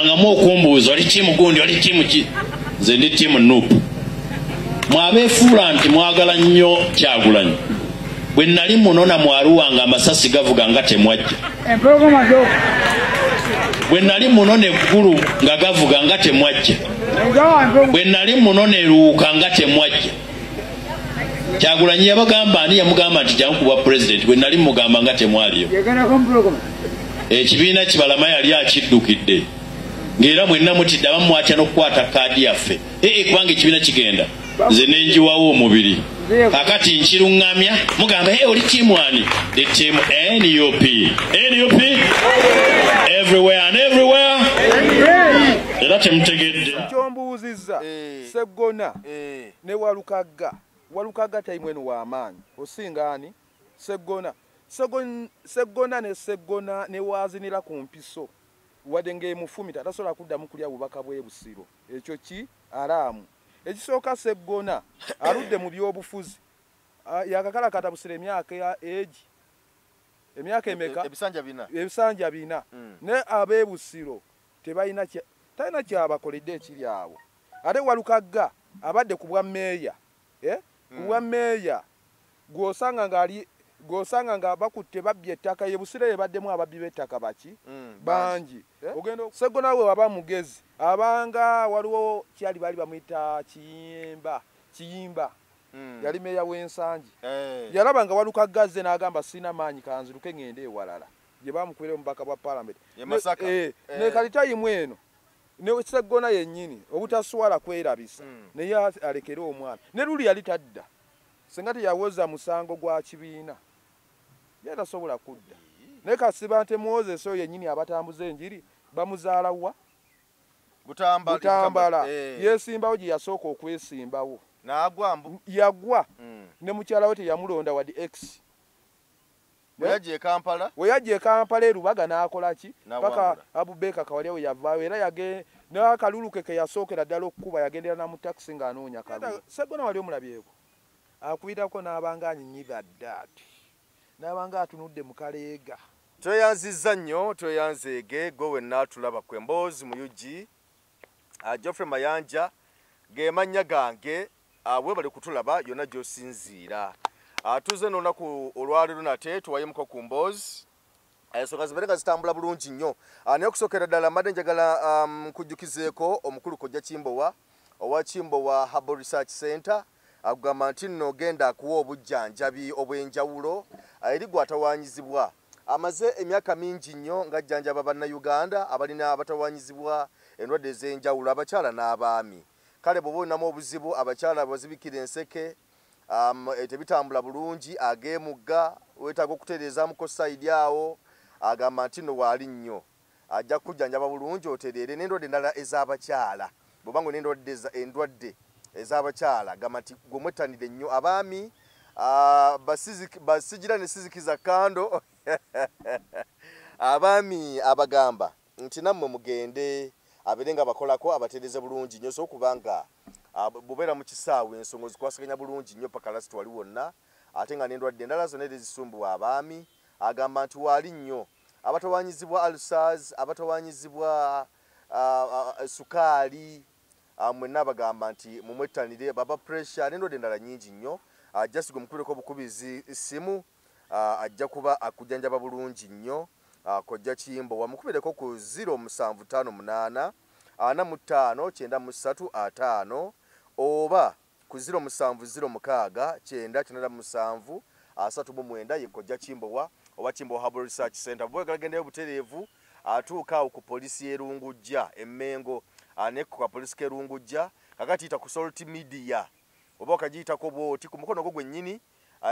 ngamu okumbuuza oli tiimu gundi oli tiimu ki nze ndi tiimu nupu mwabeefuula nti mwagala nnyo kyagulanyi bwe nali munona mwaluwa nga amasasi gavuga nga temwajja bwe nali munona eggulu nga gavuga nga temwajja bwe nali munona eruwuka nga temwajja kyagulanyi yabagamba ani yamugamba nti jangu kubwa pulezidenti bwe nali mugamba nga temwaliyo ekibiina kibalama yali akiddukidde ng'era mwenna mutidde abamu mwatya n'okukwata kaadi yaffe ee eh, eh, kubanga ekibiina kigenda nze nenjiwawo omubiri akati nkiruŋŋamya mugamba e oli tiimu ani the team nup nup everywhere and everywhere era temutegedde kyombuuzizza eh. seggona eh. ne walukagga walukagga taimwenu wamaanyi osinga ani seggona seggona ne seggona newazinira ku mpiso wadde ngaemufumita tasobola kuddamu kulya bubaka bwebusiro ekyo ki araamu ekisooka seggona aludde mu byobufuzi ah, yakakalakata busira emyaka ya egi emyaka e, e, emeka ebisanja bina ebisanja bina mm. ne abebusiro tebalina talina kyabakoledde ekiri awo ate walukagga abadde ku bwa meeya eh? ku bwa hmm. meeya gwosanga ngaali gwosanga nga bakutte babbye ettaka ye busire yebaddemu ababbi b'ettaka baki hmm, bangi eh? seggo nawe waba mugezi abanga waliwo kyali baali bamuyita kiyimba kiyimba hmm. yali meeya w'ensangi eh. yalaba nga walukagga azze n'agamba sirina maanyi kanziruke ng'ende ewalala gye bamukubira omubaka bwa palamenti eh, eh. ne kati tayimu eno neseggona yennyini obutaswala kwerabisa hmm. naye alekere omwana ne luli yali tadda singa teyawoza musango gwa kibiina ye tasobola kudda naye kasiba nte moses oyo yennyini abatambuza enjiri bamuzaala wa butambala eh. yesimbawo gye yasooka okwesimbawo yagwa hmm. ne mukyala we teyamulonda wadi x Bweyajja e Kampala. Bweyajja e Kampala e Lubaga n'akola ki? Paka Abu Baker Kawalya we yavaayo era yage n'akalulu ke ke yasookera ddala okukuba yagendera na mu takisi ng'anoonya kalulu. Sseggona wali omulabyeko? Akuyitako n'abanga anyinyidha ddaati n'abanga atunudde mu kaleega. Tweyanzizza nnyo, tweyanzeege, ggwe wenna atulaba, ggwe Mboozi mu Ug. ah, Geoffrey Mayanja ge mannya gange ah, webale kutulaba yonna gy'osinziira atuuze ah, n'olunaku olwaleero nate tuwayemuko ku mboozi ensonga zibeere nga zitambula bulungi nnyo naye okusookera ddala mbadde njagala um, nkujjukizeeko omukulu kojja kimbowa owa kimbowa harbor research center agamba nti nno genda akuwa obujjanjabi obw'enjawulo eri gwatawanyizibwa Amaze emyaka mingi nnyo ng'ajjanjaba Bannayuganda abalina abatawaanyizibwa endwadde ez'enjawulo abakyala n'abaami. Kale bw'oba olinamu obuzibu, abakyala abazibikira enseke, tebitambula bulungi, ag'emugga, weetaaga okutereezaamuko sayidi awo, agamba nti nno waali nnyo. ajja kukujjanjaba bulungi otereere n'endwadde endala ez'abakyala bw'oba nga n'endwadde endwadde ez'abakyala gamba nti gwe mwettanire nnyo abaami ah, basigira ne sizikiza kando abaami abagamba nti nammwe mugende abeere nga bakolako abatereeze bulungi nnyo so okuba nga ah, bubeera mu kisaawe ensonga ozikwasaganya bulungi nnyo paka lasiti wali wonna ate nga n'endwadde endala zonna era ezisumbuwa abaami agamba nti waali nnyo abatawanyizibwa alsars abatawanyizibwa sukaali mwenna abagamba nti mumwettanire baba pressure nendwadde endala nyingi nnyo just gwe mukubireko obukubizi ssimu ajja kuba akujjanjaba bulungi nnyo kojja kimbo wamukubireko ku 0 musanvu tano munaana ana mu ttaano kyenda mu ssatu ataano oba Ku ziro musanvu ziro mukaaga kyenda kinaana mu musanvu asatu mu mwenda ye Kojja Kimbowa owa Kimbowa Herbal Research Centre. Bw'oba oyagala gendayo butereevu atuuka awo ku poliisi y'e Lungujja e Mmengo ne ku kapoliisi k'e Lungujja. Kaakati yita ku Salt Media oba okagiyitako bw'oti ku mukono gwo gwennyini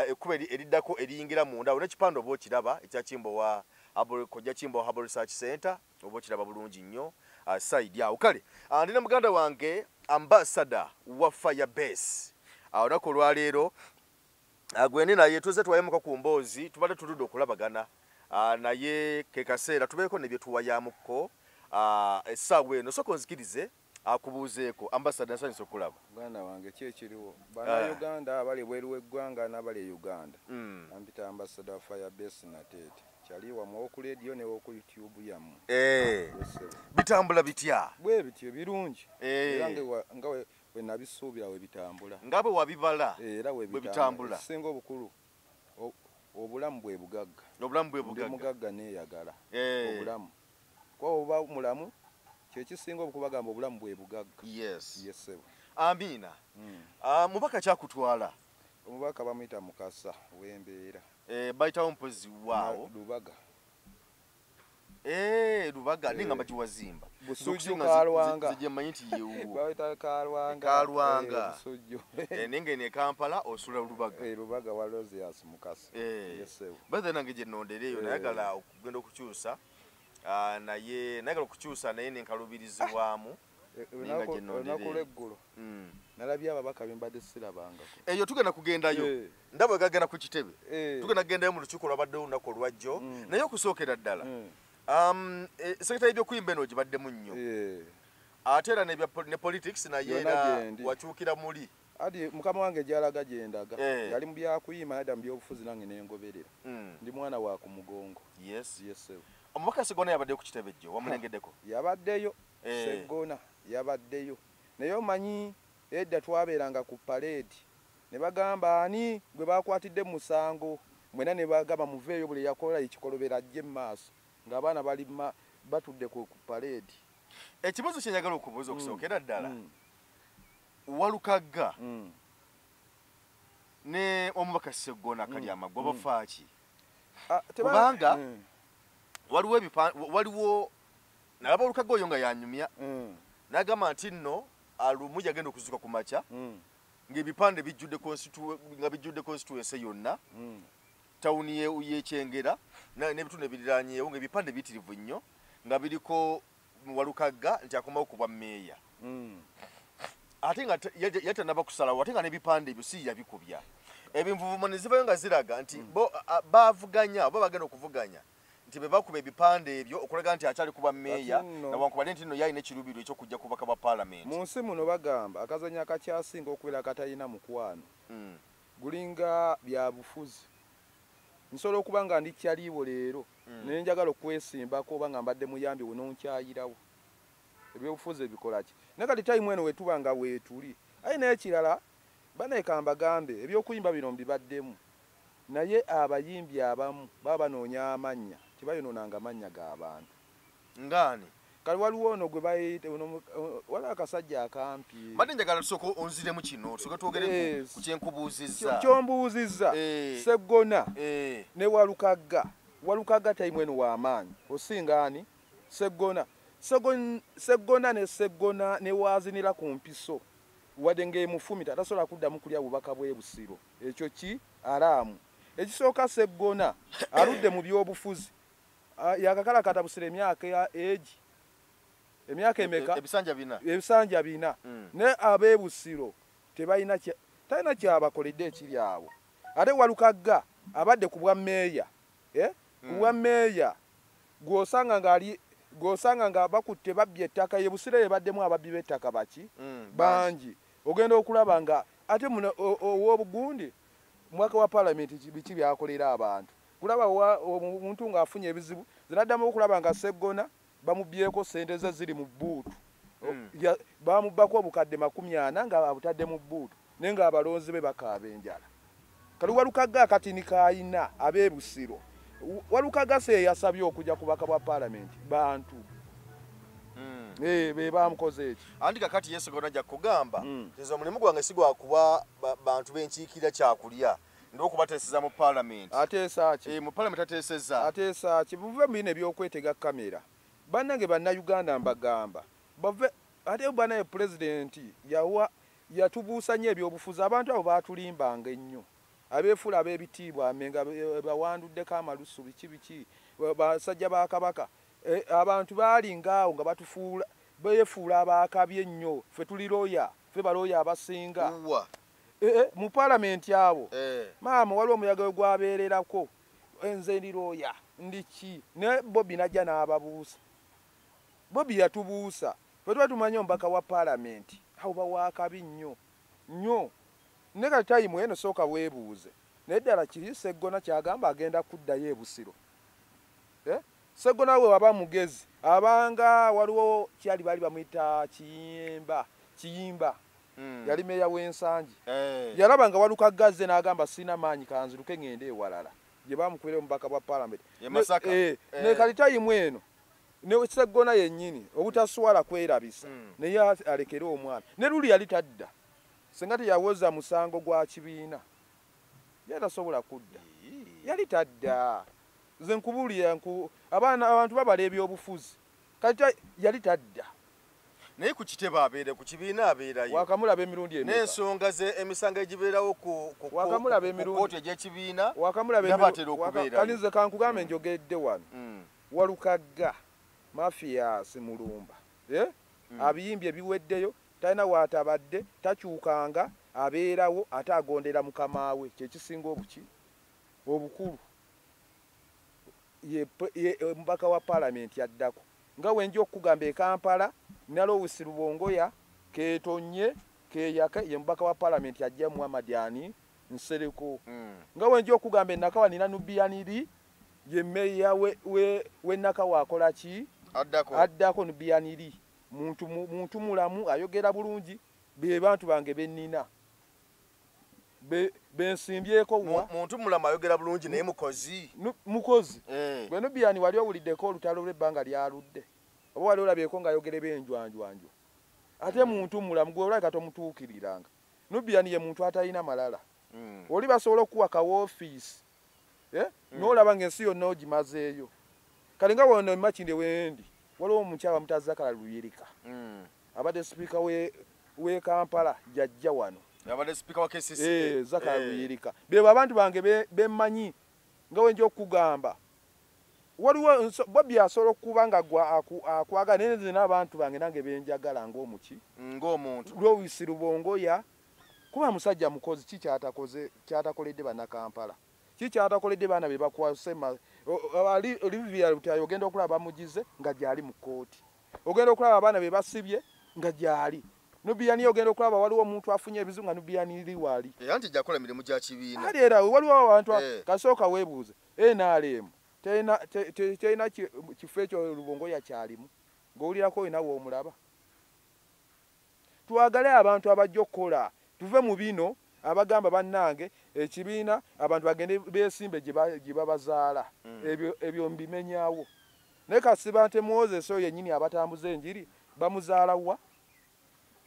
ekkubo eriddako eriyingira munda awo n'ekipande oba okiraba ekya Kimbowa Herbal Kojja Kimbowa Herbal Research Centre. oba okiraba bulungi nnyo uh, side awo kale uh, ndi ne muganda wange ambasada wa fire base awo uh, naku olwaleero uh, gwendi naye tuze tuwayemuko ku mboozi tubadde tuludde okulabagana uh, naye kekaseera tubeeko nebyetuwayamukko uh, essaawa eno soka onzikirize akubuuzeeko ambasada nsanyuse okukulaba muganda wange ki ekiriwo ah. banauganda abali ebweru weggwanga nabali e uganda hmm. ampita ambasada fire base nateete kyali wamwe woku radio ne woku youtube yamu eh. ah, bitambula bitya bwe bityo birungi eh. era nga wenabisuubira webitambula nga bwe wabibala eh, era webitambula singa obukulu obulamu bwe bugagga obulamu bwe bugagga mugagga neyagala obulamu Kuba oba mulamu kyekisinga obukuba gamba obulamu bwebugagga. Yes. Yes sebo. Ambiina. Mm. Uh, mubaka kyakutwala. Omubaka bamuyita mukasa wembeera. Eh, bayitawo mpozi waawo. Lubaga. Eh, lubaga eh, ninga mbaji wazimba busujju kalwanga zije manyi nti yewo bawita kalwanga kalwanga eh, busujju eh ninga ne kampala osula lubaga eh lubaga wa rozias mukasi eh yes sir bada nange je nondere yo eh. nayagala genda okukyusa ah, naye nagala okukyusa naye nenkalubirizibwamu olunaku lweggulo hmm. nalabye ababaka bembadde sirabangako eyo tugenda kugendayo eh. ndaba gagenda ku kitebe eh. tugenda kugendayo mu lukiiko lwabaddewo olunaku olwajjo hmm. naye okusookera ddala hmm. um, eh, seketa yebyokuyimba eno gibaddemu nnyo ate era ne politics naye era wakyukira muli Adi mukama wange gyalaga gyendaga eh. yali mubyakuyima nada mubyobufuzi nange nengoberera mm. ndi mwana wa ku mugongo yes. yes, omubaka segona yabaddeyo ku kitebe jjo wamulengeddeko yabaddeyo eh. segona yabaddeyo naye omanyi edda twabeeranga ku paleedi ne bagamba ani gwe bakwatidde mu musango mwena ne bagamba muveeyo buli yakola ekikolobera ajje mu maaso ng'abaana bali batudde ku paleedi ekibuzo kyenjagala okubuuza okusookera mm. ddala mm. walukagga mm. ne omubaka seggona mm. kali amagwa mm. bafaaki ah, kubanga mm. waliwo ebipa waliwo nalaba olukagga oyo nga yanyumya mm. nagamba nti nno alumu yagenda okuzuka ku makya mm. ngaebipande bijjudde nga bijjudde constituense yonna mm. tawuni yekyengera nebitundu ebiriranyeewo ngaebipande bitirivu nnyo nga biriko Walukagga nti akomawo ku bwa meeya mm. ate nga yatanaba kusalawo ate nga n'ebipande ebyo si yabikubya ebinvuvuma ne zivayo nga ziraga nti mm. bo bavuganya oba bagenda okuvuganya nti be bakuba ebipande ebyo okulaga nti akyali kuba meeya nawankubadde nti nno yalina ekiruubirirwa ekyokujja kubaka bwa palamenti mu nsi muno bagamba akazanyo akakyasinga okubeera katalina mukwano mm. gulinga byabufuzi nsobola okuba nga ndi kyaliiwo leero mm. naye njagala okwesimbako oba nga mbadde muyambi we nonkyayirawo ebyobufuzi ebikolaki naye kati tayimu eno wetuba nga weetuli aye naye kirala baneeka mbagambe ebyokuyimba bino mbibaddemu naye abayimbi abamu baba banoonya amannya tebayonoonanga mannya ga bantu ngaani kale waliwo ono gwe bayite wali akasajja akampi mbadde njagala tusooka onziremu kino tusooke twogere eh, ku kyenkubuuzizza kyombuuzizza eh. seggona eh. ne walukagga walukagga taimwenu w'amaanyi osinga ani seggona seggona ne seggona ne waazinira ku mpiso wadde ng'emufumita tasobola kuddamu kulya bubaka bw'ebusiro ekyo ki araamu ekisooka seggona aludde mu by'obufuzi Ah, yakakalakata busira emyaka ya egi emyaka emeka ebisanja bina ebisanja bina mm. ne abebusiro tebalina talina kyabakoledde ekiri awo ate walukagga abadde ku bwa meeya eh? ku bwa mm. meeya gwosanga ngaali gwosanga nga bakutte babbye ettaka yebusira yebaddemu ababbi b'ettaka baki mm, bangi ogenda okulaba nga ate muno ow'obugundi mwaka wa palamenti biki byakolera abantu Kulaba wa, omuntu ng'afunye ebizibu, nze naddamu okulaba nga Sseggona bamubbyeko ssente ze ziri mu bbuutu. Mm. Ya, baamubbako obukadde makumi ana nga abutadde mu bbuutu naye ng'abalonzi be bakaaba enjala. Kati Walukagga akatini k'alina ab'e Busiro, Walukagga se eyasabye okujja ku baka bwa paalamenti bantu Eh, be bamukoze eki anti kakati yesu gona ja kugamba mm. nze omulimu gwange sigwa kuba bantu benkiikira kyakulya n'okubateeseza mu palamenti ateesa ki eh, mu palamenti ateeseza ateesa ki buve mu bino ebyokwetega kamera bannange bannayuganda mbagamba bave ate banaye pulezidenti yawa yatubuusa nnyo ebyobufuzi abantu abo baatulimbanga ennyo abeefuula ab'ebitiibwa amenga eh, bawanduddeko amalusu biki biki basajja ba kabaka eh, abantu baalinga awo nga batufuula beefuula abaakabi ennyo ffe tuli looya ffe balooya abasinga Eh, eh, mu palamenti awo eh. maama waliwo omuyaga we gwabeererako nze ndi looya ndiki ne bobi najja n'ababuusa bobi yatubuusa fe tuba tumanya omubaka wa palamenti awo bawakabi nnyo nnyo ne kati tayimu eno sooka weebuuze naye ddala kiri seggona kyagamba agenda kuddayo ebusiro Ssegona wewaba mugezi abanga waliwo kyali bali bamuyita kiyimba kiyimba hmm. yali meeya w'ensangi eh. yalaba nga waluka gazze n'agamba sirina maanyi kanziruke ng'ende ewalala gye bamukubira omubaka bwa palamenti eh, eh. ne kalitayimu eno nekiseggona yennyini obutaswala kwerabisa hmm. naye alekere omwana ne luli yali tadda senga teyawoza musango gwa kibiina yali tasobola kudda yali tadda nze nkubuulira nku abaana abantu babala ebyobufuzi kati yali tadda naye ku kitebe abeere ku kibiina abeerayo wakamulaba emirundi emeka n'ensonga ze emisango egibeerawo ku wakamulaba emirundi kooti egy'ekibiina wakamulaba nabatera okubeerayo kati nze kankugambe mm. njogedde wano mm. walukagga mafiyaasi mulumba eh? mm. abiyimbye biweddeyo Talina w'atabadde, takyukanga, abeerawo, ate agondera Mukama we, kye kisinga obuki, obukulu. Ye, ye omubaka wa Palamenti addako. Nga bwe nja okukugamba, e Kampala, Nalowusi Rubongoya, keetonnye, keeyake, ye mubaka wa Palamenti aggya Muhammad ani? Nsereko. Nga bwe nja okukugamba, e Nakawa nnina Nubian Li, ye mmeeya w'e, w'e, w'e Nakawa akola ki? Addako. Addako, Nubian Li. muntu muntu mulamu ayogera bulungi be bantu bange benina be bensimbyeko wa muntu mulamu ayogera bulungi naye mukozi mukozi eh. bwenu biani wali owulideko olutalo lwe banga lyaludde oba wali olabyeko nga ayogera ebenjwanjwanjwa ate muntu mulamu gwe olabika tomutuukiriranga nubiani ye muntu atalina malala mm. oli basobola okuwa ka wofiisi eh? mm. nolaba nga ensi yonna ogimazeeyo kale nga wona makinde wendi waliwo omukyala mutazakala luyirika mm. abadde sipiika we kampala jajja wano abadde sipiika wa kcc eh, zakala eh. luyirika bebo abantu bange bemanyi nga wenja okugamba waliwo bobi asobola okuba nga akwagala naye nze n'abantu bange nange benjagala ng'omuki ng'omuntu lwowisi lubongoya kuba musajja mukozi ki kyatakoze kyatakoledde banakampala ki kyatakoledde baana be bakwase olivia lutayo ogenda okulaba bamugize nga gyali mu kkooti ogenda okulaba abaana be basibye nga gyali nubiyani ogenda okulaba waliwo omuntu afunye ebizibu nga nubiyani ri wali era nti jakola mirimu gya kibiina ali era waliwo abantu eh. kasooka weebuuze nrm terina kifo ekyo lubongo yakyalimu ng'owulirako olina woomulaba Twagale abantu abajja okukola tuve mu bino abagamba banange ekibiina abantu bagende besimbe gyebabazaala hmm. ebyo mbimenyawo naye kasibante moses oyo yenyini abatambuza enjiri bamuzaala wa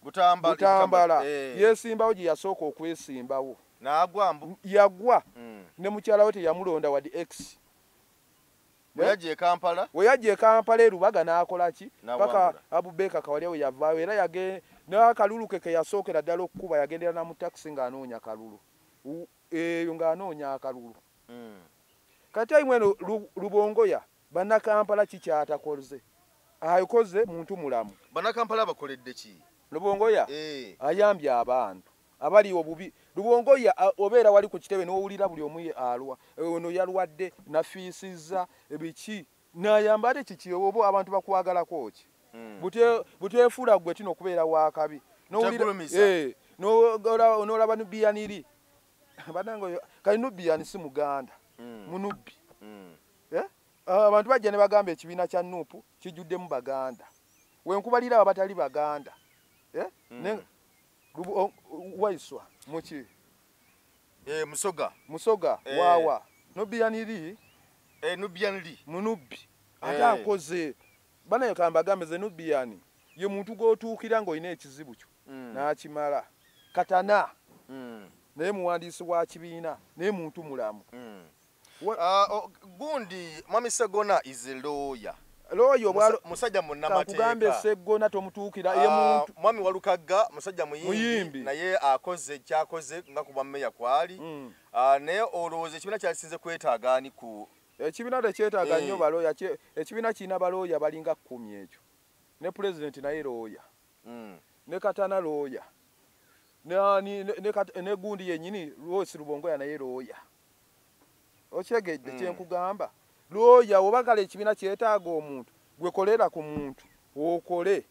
butambala eh. yesimbawo gyeyasooka okwesimbawo yagwa hmm. ne mukyalawe teyamulonda wadi x Bweyajja e Kampala. Weyajja e Kampala e Lubaga n'akola ki? Paka Abu Baker Kawalya weyavaawo era yage n'akalulu ke ke yasookera ddala okukuba yagendera na mu takisi ng'anoonya kalulu. Eyo ng'anoonya akalulu. Hmm. Ka time eno Lubongoya bannakampala ki ky'atakoze? Akoze muntu mulamu. Bannakampala abakoledde ki? Lubongoya eh. ayambye abantu. abali obubi lubongo ya obeera wali ku kitebe n'owulira buli omu alwa ono yalwadde nafiisizza ebiki nayamba ate kiki oba abantu bakwagalako ki hmm. buteefuula gwe tino okubeera wakabi eh, nolaba nubiyaniri banange oyo kali nubiyani si muganda hmm. munubbi hmm. eh? ah, abantu bajja ne bagamba ekibiina kya nupu kijjuddemu baganda wenkubalira abatali baganda eh? waiswa muki eh, musoga musoga eh. wawa nubian li eh, nubian li munubbi eh. ate akoze bana yekamba agambe ze nubian ye muntu gwotuukira ng'olina ekizibu kyo mm. n'akimala katana mm. naye muwandiisi wa kibiina naye muntu mulamu mm. Ah, oh, gundi mwami segona is a lawyer lawyer obwa musajja munnamateeka kakugambe segona tomutuukira ye ah, muntu mwami walukagga musajja muyimbi naye akoze kyakoze nga kuba meya kwali mm. ah, naye olowooza ekibiina kyasinze kwetaaga ani ku ekibiina tekyetaaga nnyo eh. balooya ekibiina kirina balooya balinga kkumi ekyo ne pulezidenti naye looya mm. ne katana looya ne gundi yennyini lwosi lubongoya naye looya okitegedde mm. kyenkugamba looya wobagala ekibiina kyetaaga omuntu gwekolera ku muntu okole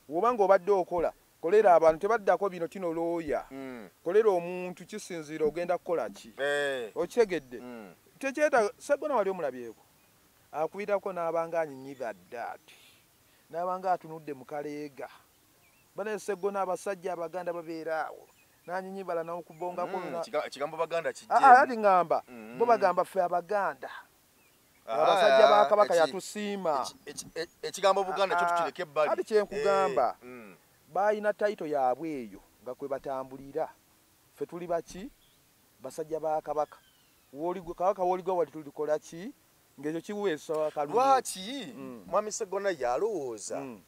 woba nga obadde okola kolera abantu tebaddako bino tino looya mm. kolera omuntu kisinziira ogenda kukola ki eh. okitegedde mm. tekyetaaga segona wali omulabyeko akubirako n'abanga anyinyiga ddaati n'abanga atunudde mu kaleega banaye segona abasajja abaganda babeera awo nanyinyibala nawokubongako mm, ekigambo baganda kijati ah, ngamba mm. bo bagamba ffe abaganda ah, abasajja ba kabaka yatusiima ekigambo buganda kyo ah, tukireke ebbali kati kyenkugamba eh, mm. balina tayito yaabwe eyo nga kwe batambulira ffe tuli baki basajja ba kabaka kabaka woligwa wali tulikola ki ngekyo kiweesa wakalulu lwaki mm. mwami segona yalowooza mm.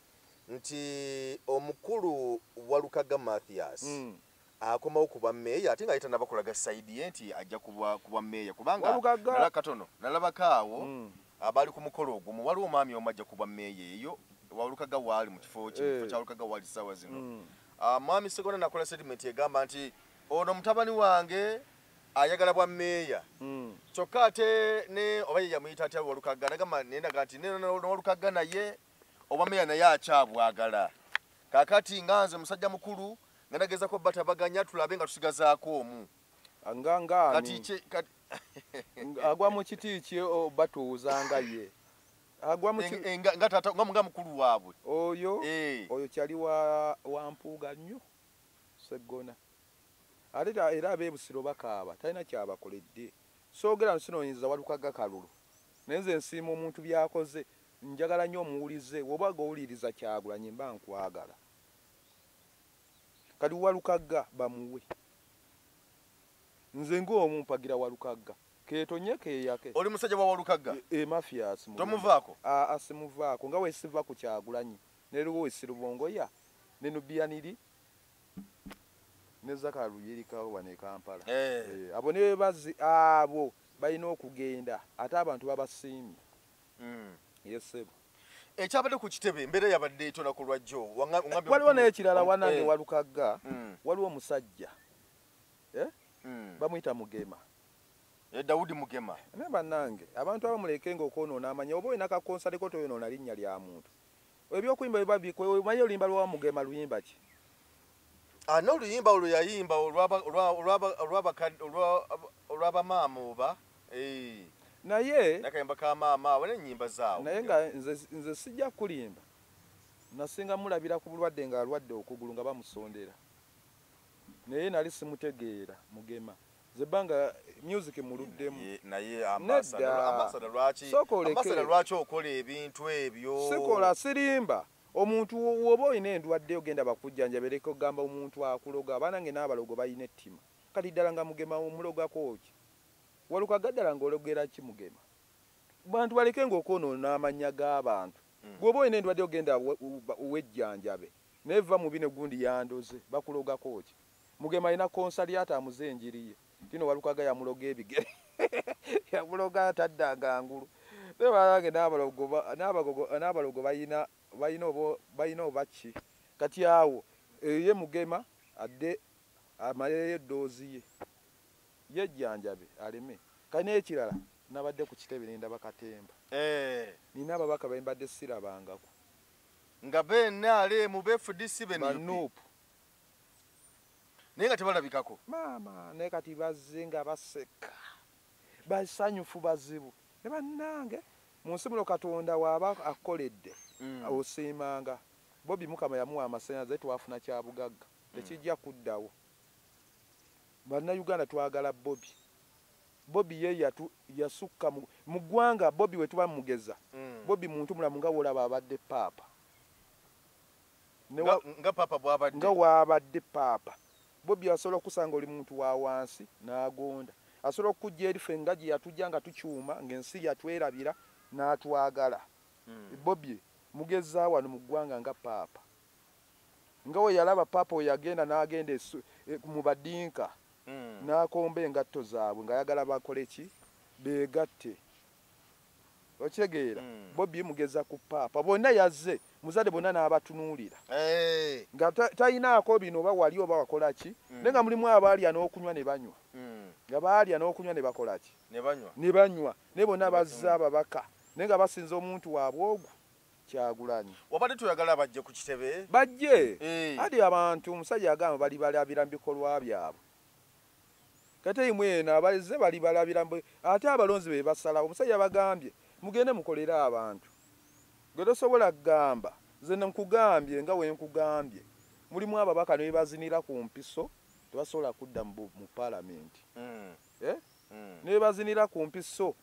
nti omukulu walukaga mathias mm. akomawo kuba meeya ate nga yetanaba kulaga saidi ye nti ajja kuba meeya kubanga nala katono nalabako awo mm. abali ku mukolo ogumu waliwo omwami omu ajja kuba meeya eyo walukaga waali mu kifo kifo eh. kyalukaga waali sawa zino mm. ah, mwami segona nakola sediment egamba nti ono mutabani wange ayagala bwa meeya hmm. kyokka ate ne oba ye yamuyita atya walukagga nagamba nendaga nti newalukagga naye obwa meeya naye akyabwagala kakati nga nze musajja mukulu nga nagezako batabaganya tulabe nga tusigazaako omu agwa mu kiti ki batuuza nga ye agwa mu nga mukulu waabwe oyo eh. oyo kyali wa mpuuga nnyo seggona Ate era abe Busiro bakaaba talina kyabakoledde. Soogera nsinoonyeza Walukagga kalulu naye nze nsiima omuntu byakoze. Njagala nnyo omuwulize woba gowuliriza Kyagulanyi mba nkwagala. Kati Walukagga bamuwe. Nze nga omu mpagira Walukagga. Ketonye keyake. Oli musajja wa Walukagga? E, e mafias. Tomuvaako? A, a simuvaako nga wesiva ku Kyagulanyi. Neliwo wesirubongoya ne Nubian li. ne zakalu yerikawo wano e kampala eh. Eh, abo ne bazi abo balina okugenda ate abantu babasiimye mm. yesebo ekyabadde ku kitebe embeera yabadde etona ku lwajjo waliwo n'ekirala wanange eh. walukagga mm. waliwo omusajja eh? mm. bamuyita mugema eh, dawudi mugema naye bannange abantu abamuleke nga okwonoona amanya oba olina kakonsaliko toyonoona linnya lya muntu Ebyokuyimba biba bikwe omanyi oluyimba lwa Mugema luyimba ki? Ah no luyimba olwo yayimba olwaba olwaba olwaba olwaba maama oba eh naye nakayimba ka maama wale nyimba zaawo naye nga nze nze sijja kulimba nasinga mulabira ku bulwadde nga alwadde okugulu nga bamusondera naye nali simutegeera mugema zebanga music muluddemu naye ambasada lwaki ambasada lwaki okola ebintu ebyo sikola sirimba omuntu woba olina endwadde ogenda bakujjanja bereka ogamba omuntu akuloga abaana nge n'abalogo balina ettima kati ddala nga mugema omulogako ki waluka gaddala nga ologera ki mugema bantu baleke nga okwonoona amannya g'abantu mm. gwoba olina endwadde ogenda wejjanjabe naye va mu bino gundi yandoze bakulogako ki Mugema alina konsaliato amuze enjiri ye. Tino Walukaga yamuloga ebigere. Yamuloga ataddanga ngulu. Naye banange n'abalogo n'abagogo n'abalogo balina balina oba balina oba ki? Kati awo eyo ye Mugema adde amalereyo eddoozi ye yejjanjabe aleme. Kati n'ekirala nabadde ku kitebe ne ndaba katemba. Nina ababaka be mbadde sirabangako. Nga be NRM, be fdc, be nup. naye nga tebalabikako maama naye kati bazze nga baseka basanyufu bazibu ne bannange mu nsi muno katonda waaba akkoledde mm. osiimanga bobi mukama yamuwa amasanyalaze twafuna kya bugagga mm. tekijja kuddawo bannayuganda twagala bobi bobi ye yatu yasukka mu ggwanga bobi we tuba mugeza mm. bobi muntu mulamu nga wolaba abadde paapa nga waabadde paapa bobi asobola okusanga oli muntu wa wansi n'agonda asobola okukujja eri fe nga gye yatujja nga tukyuma ng'ensi yatwerabira n'atwagala hmm. bobi mugezaa wano mu ggwanga nga paapa nga we yalaba paapa we yagenda n'agenda e, mu badinka hmm. n'akomba engatto zaabwe ng'ayagala bakole ki beegatte okitegeera hmm. bobi mugeza ku paapa bonna yazze muzadde bonna n'abatunuulira eh. nga talinaako bino oba wali oba wakola ki hmm. naye nga mulimu abaalya n'okunywa ne banywa hmm. nga baalya n'okunywa ne bakola ki ne banywa naye bonna bazze ababaka naye nga basinza omuntu waabwe ogwo kyagulanyi wabadde tuyagala bajje ku kitebe bajje eh. adi abantu omusajja agamba bali balabira mu bikolwa byabwe Kateyimu eno abazze balibalabira mbu ate abalonzi be basalawo. Omusajja yabagambye mugende mukolere abantu. Gwe tosobola kugamba nze nkugambye nga bwe nkugambye. Mulimu ababaka ne bye bazinira ku mpiso tebasobola kudda mu Palamenti. Ne bye bazinira ku mpiso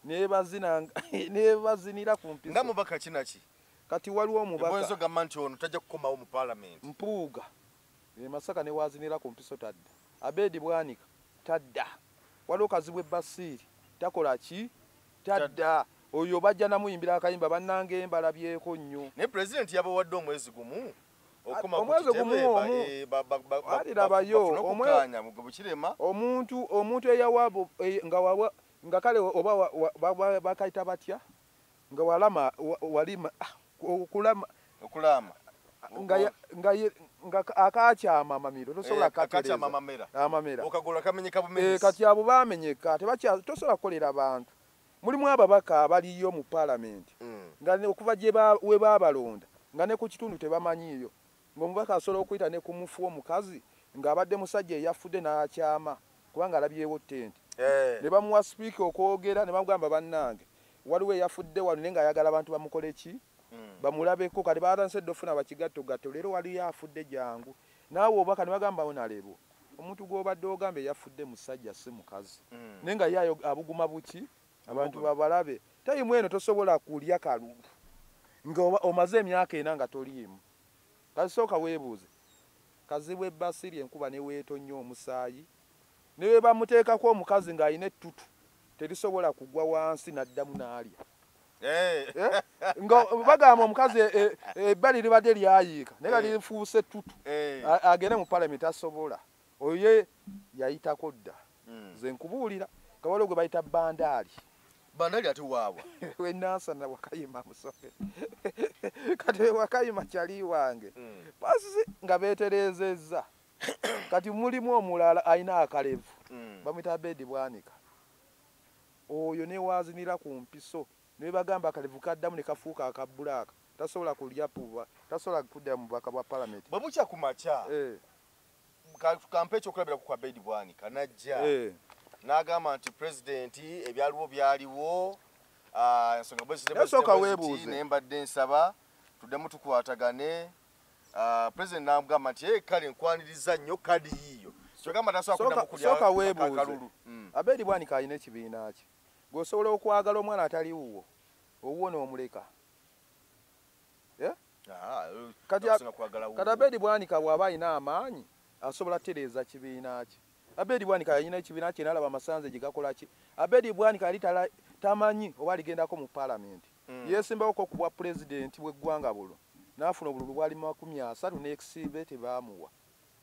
ne bye bazina ne bye bazinira ku mpiso. Nga mubaka ki na ki? Kati waliwo omubaka. Ebwenzo gamba nti ono tajja kukomawo mu Palamenti. Mpuuga. E Masaka ne w'azinira ku mpiso tadda. Abed Bwanika, Tadda. Waliwo Kazibwe Basiiri, Takola ki? Tadda. Oyo bajja namuyimbira akayimba bannange mbalabyeko nnyo. Naye Pulezidenti yabawadde omwezi gumu okukoma ku kitebe bafune okukkaanya. Omuntu eyawa nga kale oba bakayita batya? nga walama walima ah, okulama okulama nga nga nga akakya amamiro tosobola eh, kakakya amamera amamera okagula kamenye kabumenyi eh kati abo bamenye ka tebakya tosobola kolera abantu mulimu ababaka abaliyo mu parliament mm. nga okuva je ba we babalonda nga ne ku kitundu tebamanyiyo Ng'omubaka asobola okuyita ne ku mufu omukazi ng'abadde musajja eyafudde n'akyama kubanga alabyewo ttenti ne bamuwa sipiika okwogera ne bamugamba bannange waliwo eyafudde wano naye ng'ayagala abantu bamukole ki bamulabeko kati baatandise dda ofuna bakigattogatto leero waliyo afudde jangu naawe obubaka ne bagamba onalebo omuntu gw'obadde ogamba eyafudde musajja si mukazi naye nga ye abuguma buki abantu babalabe tayimu eno tosobola kulya kalulu nga omaze emyaka ena nga toliimu. Kati sooka weebuuze, Kazibwe bba si ly'enkuba ne weetonnya omusaayi? Ne bwe bamuteekako omukazi ng'alina ettutu terisobola kugwa wansi n'addamu n'alya? Eh? Nga bagamba omukazi e, e, ebbali libadde lyayiika naye nga eh. lifuuse ettutu eh. agende mu palamenti asobola Oyo ye yayitako dda. Mm. Nze nkubuulira nga waliwo gwe bayita bandaali. Bandaali ate waawa. We Nansana Wakayima musoke. Kati we Wakayima kyali wange. Mm. Basi nga beetereezezza. Kati mulimu omulala alina akalevu. Mm. Bamwita Abedi Bwanika. Oyo ne waazinira ku mpiso. Ne bagamba akalevu kaddamu ne kafuuka aka bbulaaka. Tasobola kulya puba. Tasobola kudda mu bubaka bwa palamenti. Bwe bukya ku makya. Eh. kampa ekyokulabirako kwa bedi bwanika najja eh. n'agamba nti pulezidenti ebyaliwo byaliwo ah, ensonga bwezitnaye mbadde nsaba tuddemu tukwatagane ah, pulezidenti n'agamba nti eh, kale nkwaniriza nnyo kadi yiiyo kyogamba tasobola weebuuze hmm. abeeri bwanika alina ekibiina kye gweosobola okwagala omwana atali wuwo owuwo n'omuleka eh? kati abedi bwanika bwaba alina amaanyi asobola tereeza kibiina kye abedi bwanika yalina ekibiina kye nalaba amasanze gye gakolaki abedi bwanika yali tamanyi oba aligendako mu palamenti hmm. yesimbawoko ku bwa pulezidenti bweggwanga bulo nafuna obululu bwali makumi asatu nekisimbe tebamuwa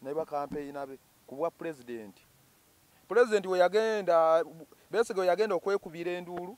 naye bakampeyina be ku bwa pulezidenti pulezidenti weyagenda besige weyagenda okwekubira enduulu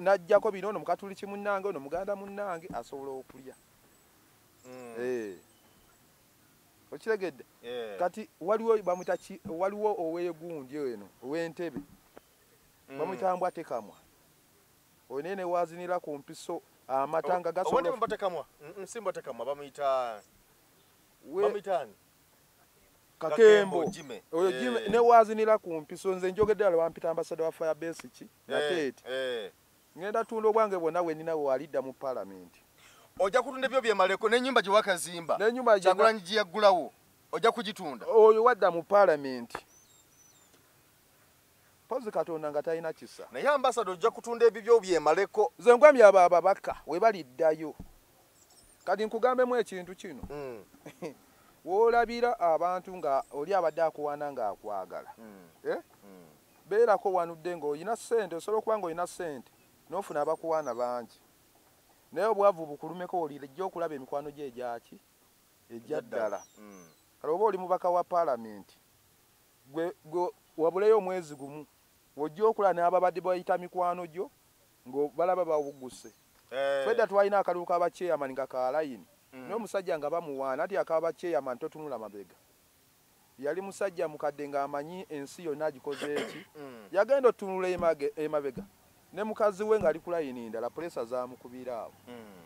najjako bino ono mukatuliki munnange ono muganda munnange asobola okulya hmm. eh. okiregedde eh. kati waliwo bamwita waliwo owegundi eno owentebe hmm. bamwita mbwa tekamwa onaye newazinira ku mpiso amata nga gasobola kakembo oyo eh. jime ne wazinila ku mpiso nze njogedde ala bampita ambasada wa fire base ki nateeti eh, eh. ngenda tunda obwange bwonna bwe nina wewalidda mu palamenti ojja kutunda ebyo byemaleko n'ennyumba gye wakazimba kyagulanyi gye yaggulawo ojja kugitunda oyo wadda mu palamenti Mpozi katonda nga talina kisa. Naye ambasada ojja kutunda ebibyo byemaleko. Nze ngwamya abo ababaka webaliddayo. Kati nkugambemu ekintu kino. Mm. Wolabira abantu nga oli abadde akuwaana nga akwagala. Mm. Eh? Mm. Beerako wanudde nga olina ssente osobola okuba nga olina ssente n'ofuna abakuwaana bangi. Naye obwavu bukulumeko olijja okulaba emikwano gye egyaki egya ddala. Mm. Kale oba oli mubaka wa palamenti Gwe, gwe wabuleyo omwezi gumu, wojja okulaba n'ababadde bayita mikwano gyo nga balaba bawugguse. Eh. Fedda twalina akalulu ka ba chairman nga ka layini, mm. naye omusajja nga bamuwaana, anti aka ba chairman totunula mabega. Yali musajja mukadde ng'amanyi ensi yonna agikoze eki, mm. yagenda otunula emabega. ne mukazi we ngali ku layini ndala pulesa zamukubira awo hmm.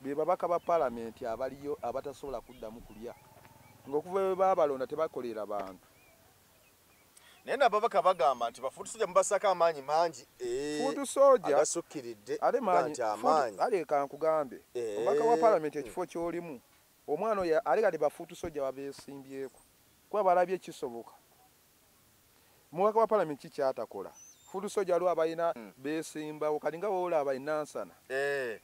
be babaka ba palamenti abaliyo abatasobola kuddamu kulya ngaokuva bwe babalonda tebakolera bantu naye nababaka bagamba nti bafuutu soja mubasako amaanyi mangi eh, fuutu soja agasukkiridde ate maanyi amaanyi ale kankugambe eh. omubaka wa palamenti ekifo kyolimu omwana oyo ale kati bafuutu soja babeesimbyeko kuba balabye kisoboka Mubaka wa parliament ki kyatakola? Food soja lwa bayina mm. besimbawo kali nga wola abayi nansana. Eh.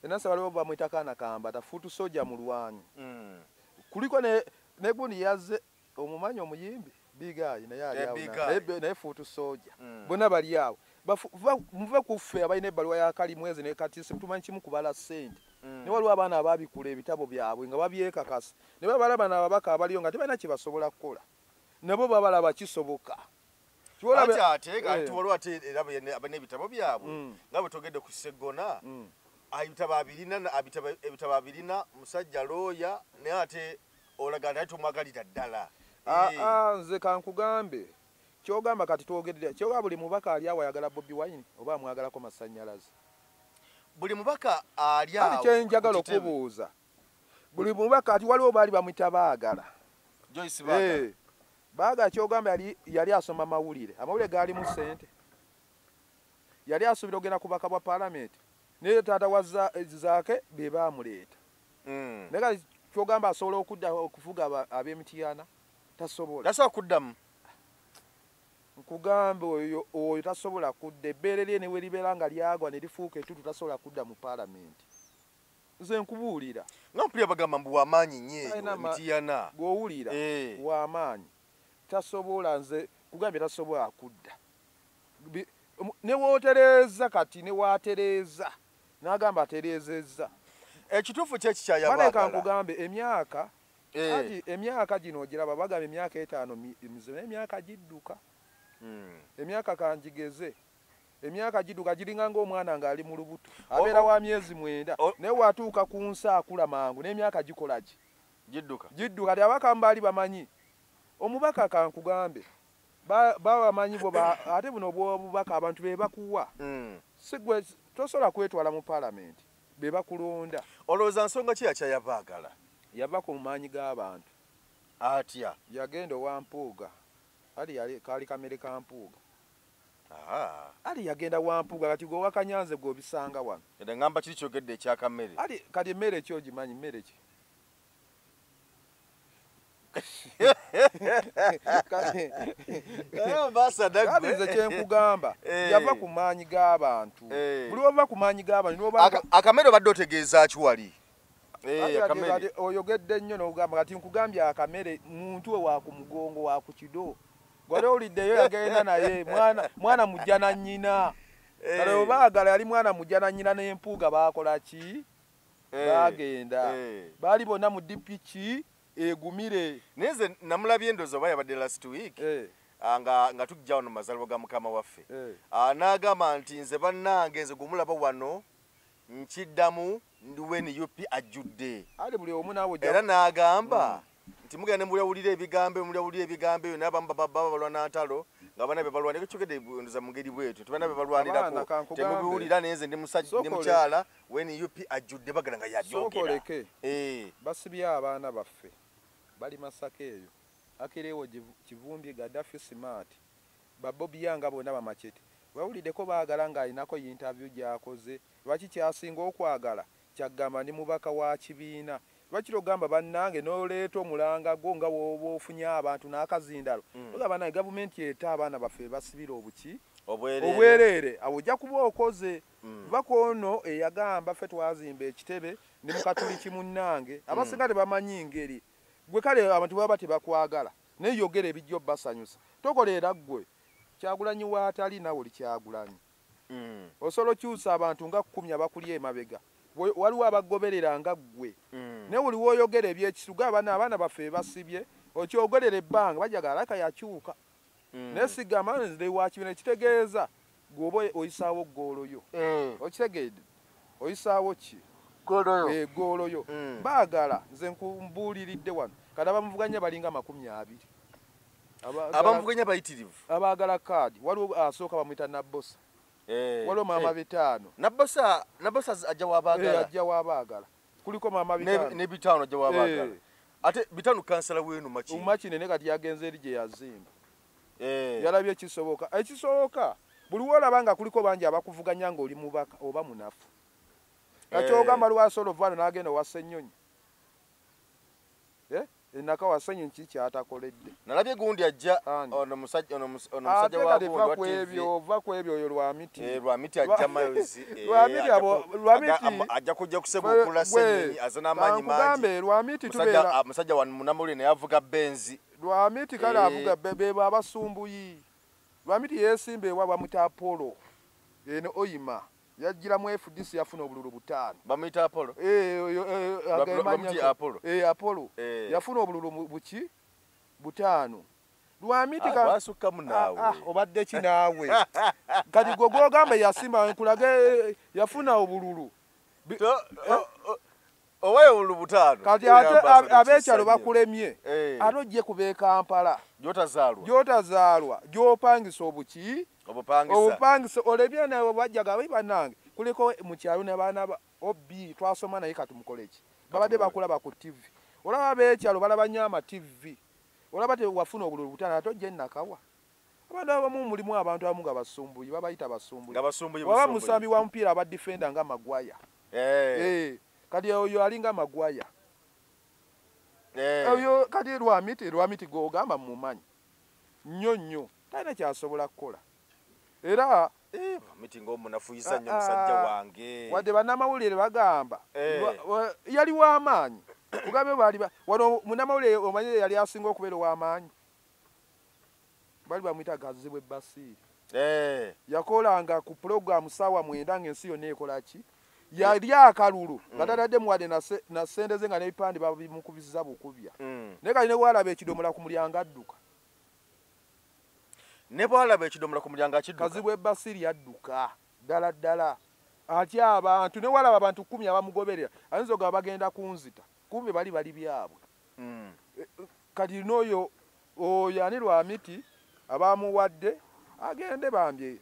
Enasa waliwo bamwita kana kamba ta food soja mulwanyi. Mm. Kuliko ne ne gundi yaze omumanyo omuyimbi big eye naye ali awo. Eh, naye naye food soja. Mm. Bona bali awo. Muve kuffe abayina ebbaluwa ya kali mwezi ne katisi mutumanyi kimu kubala sente. Mm. Ne waliwo abaana ababikula ebitabo byabwe nga babyekakasa. ne babala bano ababaka abaliyo nga tebalina kye basobola kukola nabo babalaba kisoboka ate ate nga eh. tuwaliwo ate era n'ebitabo byabwe mm. nga bwe togedde ku seggona mm. ebitabo abirina ebitabo abirina musajja looya naye ate olagana naye tomwagalira ddala ah, eh. ah, nze kankugambe kyogamba kati twogerera kyoga buli mubaka ali awo ayagala bobi wine oba amwagalako masannyalaze buli mubaka ali awo kyenjagala okubuuza buli mubaka kati waliwo baali bamwita baagala joyce baagala eh, baagala kyogamba yali yali asoma mawulire amawulire gaalimu sente yali asuubira okugenda kubaka bwa palamenti naye taata wa eh, zaake be baamuleeta mm. naye kati kyogamba asobola okudda okufuga ab'emitiyana tasobola tasobola kuddamu nkugambe oyo oyo tasobola kudda ebbeere lye ne we libeera nga lyagwa ne lifuuka etutu tasobola kudda mu palamenti nze nkubuulira nga mpulira bagamba mbu wamaanyi nnyo eyo mitiyana gwowulira eh. wamaanyi tasobola nze kugambye tasobola kudda newotereeza kati newatereeza nagamba atereezezza ekituufu kyekikyayabaleka nkugambe emyaka eh. ati emyaka gino ogiraba bagamba emyaka etaano mizibu naye emyaka gidduka hmm. emyaka kanjigeze Emyaka giduka giringa ng'omwana ng'ali mu lubuto abeera wa myezi mwenda naye watuuka ku nsa akula mangu n'emyaka gikola ki gidduka gidduka ti abaka mbaali bamanyi omubaka kankugambe babamanyi bo ate buno obwobubaka abantu be bakuwa hmm. sigwe tosobola kwetwala mu palamenti be bakulonda olowooza nsonga ki yakya yabaagala yava ku maanyi g'abantu atya yagenda owa mpuuga ali kaali kamere ka mpuuga ali yagenda wampuga kati gwe wakanyanze gwe obisanga wano eda ngamba kiri kyogedde ekyaka mmere ali kati emmere ki ogimanyi mmere ki nze kyenkugamba eh. yava ku maanyi g'abantu eh. buli wava ku maanyi g'abantu akamere obadde otegeeza ki wali eh, oyogedde nnyo nogamba kati nkugambye akamere muntu we wakumugongo wakukido gwali owuliddeyo yagenda naye mwana mujja na nyina eh. kale obaagala yali mwana mujja na nyina nempuuga bakola ki eh. bagenda baali bonna mu dpki egumire naye nze namulabye endozi oba yabadde last week eh. ah, nga nga tujja wano mazalibwa ga mukama waffe eh. ah, n'agamba nti nze bannange nze gwemulaba wano nkiddamu ndi we nup ajjudde ali buli omu naawe era n'agamba mm. nti mugenda ne mulyawulira ebigambo eyo mulyawulira ebigambo eyo naye abamu baba balwa na ntalo nga bana be balwanira ekyogedde ndoza mu ngeri bwetu nti bana be balwanirako temubiwulira naye nze ndi musajja ndi mukyala we nup ajjudde bagala nga yabyogera eh. basibye abaana baffe bali masaka eyo akireewo kivumbye gadafi simaati Ba Bobi Young nga bona ba Machete wewulideko bagala nga alinako yinterview gyakoze lwaki kyasinga okwagala kyagamba ndi mubaka wa kibiina lwaki togamba banange noleeta omulanga gwo nga woba ofunye abantu nakazindalo togamba banange gavumenti ete abaana baffe bebasibira obuki obwerere awo ojja kuba okoze kuba kwono eyagamba ffe twazimba ekitebe ndi mukatuliki munange abasinga tebamanyi ngeri gwe kale abantu baba tebakwagala Naye yogera ebijja obbasanyusa. Tokola era ggwe Kyagulanyi w'atali naawe oli Kyagulanyi. Mm. Osobola okyusa abantu nga kkumi abakulya emabega. Waliwo abagoberera nga ggwe. Mm. Naye buli w'oyogera eby'ekisuga abana abaana baffe bebasibye okyogerera ebbanga bajagala alaka yakyuka. Mm. Naye sigamba nze wa kibina ekitegeeza gwoba oyisaawo ggoolo yo eh. okitegedde oyisaawo ki eggoolo eh, yo hmm. baagala nze nkumbuuliridde wano kati abamuvuganya balinga amakumi abiri abamuvuganya bayitirivu abaagala kaadi waliwo asooka bamuyita nabbosa eh, waliwo maama bitaano nabbosa ajja wabaagala ajja wabaagala kuliko maama bitaano ne bitaano ajja wabaagala ate bitaano kansala wenu makine makine ne kati yagenze eri gye yazimba eh. yalabye kisoboka ekisoboka buli wolaba nga kuliko bangi abakuvuganya nga oli mubaka oba munafu kakyogamba eh. lwasi oluvano nagenda owa senyonyi eh? enaka wasenyonyi kii kyatakoledde nalabye gundi ajja ono musajja ova kwebyo oyo lwamiti eh, lwamiti ajja mayozi lwamiti abo lwamiti ajja kujja kuseba okula senyonyi azana amanyi mangi lwamiti tubera musajja wa munamuli naye avuga benzi Lwamiti kale eh. avuga bebo abasumbuyi. Lwamiti yesimba ewa bamuta Apollo. Eno oyima. Yajjira mu FDC yafuna obululu butaano. Bamuyita Apollo. Eh, oyo eh, agamanya Apollo. Eh, Apollo. Eh. Yafuna obululu buki? Butaano. Lwamiti ah, ka wasukka munaawe. Ah, ah, obadde ki naawe? Kati gwe gwogamba yasimba nkulage yafuna obululu. To, eh? oh, oh. kati ate abekyalo bakulemye eh. ate ojje ku bekampala gyotazaalwa gyopangisa obuki obupangisa olebye nawe bajjaga bai banange kuliko mukyalo nabaana ob twasoma naye katumukoleki babadde bakulaba ku tv olaba bekyalo balaba nyo ama tv olaba tewafuna obululu butana ate ojje nakawa abantu abamu mulimu abantu abamu nga basumbuyi babayita basumbuyi waba musambi wa mupiira aba defenda nga magwaya eh. eh, kati oyo alinga magwaya eh. oyo kati lwamiti lwamiti gogamba mumanyi nnyo nnyo talina kyasobola kukola era wadde banamawulire bagamba yali wamaanyi kugambe bali wano munamawulire omanyire yali asinga okubeera owamaanyi bali bamuyita gazibwe basiiri eh. yakolanga ku pulogulaamu saawa mwenda ng'ensi yonna ekola ki yali akalulu nga mm. tatadde muwadde na sente ze nga n'ebipande babimukubisiza bukubya mm. naye kali ne bwalaba ekidomola ku mulyango adduka ne bwalaba ekidomola ku mulyango akidukazibwa ebasiri yadduka ddala ddala atya abantu ne walaba abantu kkumi abamugoberera ayinza ogaba bagenda kunzita kumbe bali bali byabwe mm. eh, kati noyo oyo ani lwamiti abamuwadde agende bambye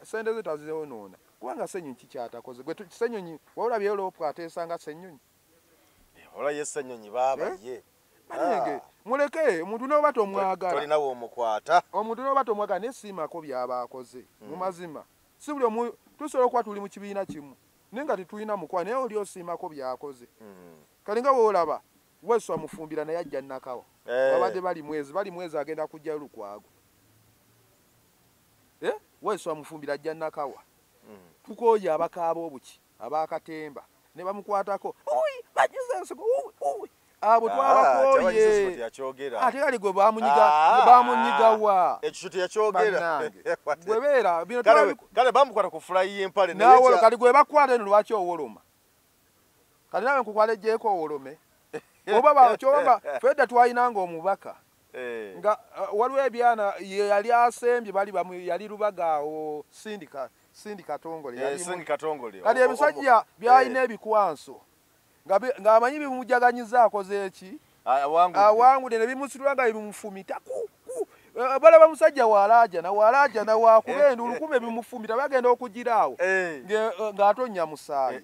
sente ze tazeonoona kubanga senyonyi kikyatakoze gwe senyonyi waolabyeyo lopu ateesanga senyonyi eh, olaye senyonyi baaba eh? ye banenge ah. muleke omuntu noba tomwagalanawe omukwata omuntu noba tomwagala naye siimako byaba akoze mm. mu mazima si buli omu tusobola okuba tuli mu kibiina kimu naye nga tetulina mukwa naye oli osiimako byakoze hmm. Kale nga wolaba Wesu amufumbira naye ajja Nakawa eh. babadde bali mwezi bali mwezi agenda kujja Lukwago eh? Wesu amufumbira ajja Nakawa mm. tukoye abakaaba obuki abakatemba ne bamukwatako uyi bajuze ensigo uyi uyi abo ah, twabakoye ate kali gwe bamunyiga ah, bamunyiga wa ekyo teyakyogera gwe beera bino kale bamukwata ku fulayi y'empale nawe kali gwe bakwata eno lwaki owoloma kati nawe nkukwalejjeeko owolome oba bakyobamba fedda twalinanga omubaka eh. nga eh, waliwo ebyana yeyali asembye bali yali lubaga awo sindika sindi katongole eh, kati ebisajja byalina ebikwanso ng'amanyi bimujjaganyiza akoze eki awangude ne bimusitula nga bimufumita eh, balaba musajja walaajana walaajana wakuba eh, enduulu eh. kumbe bimufumita bagenda okugira awo ng'atonnya musaayi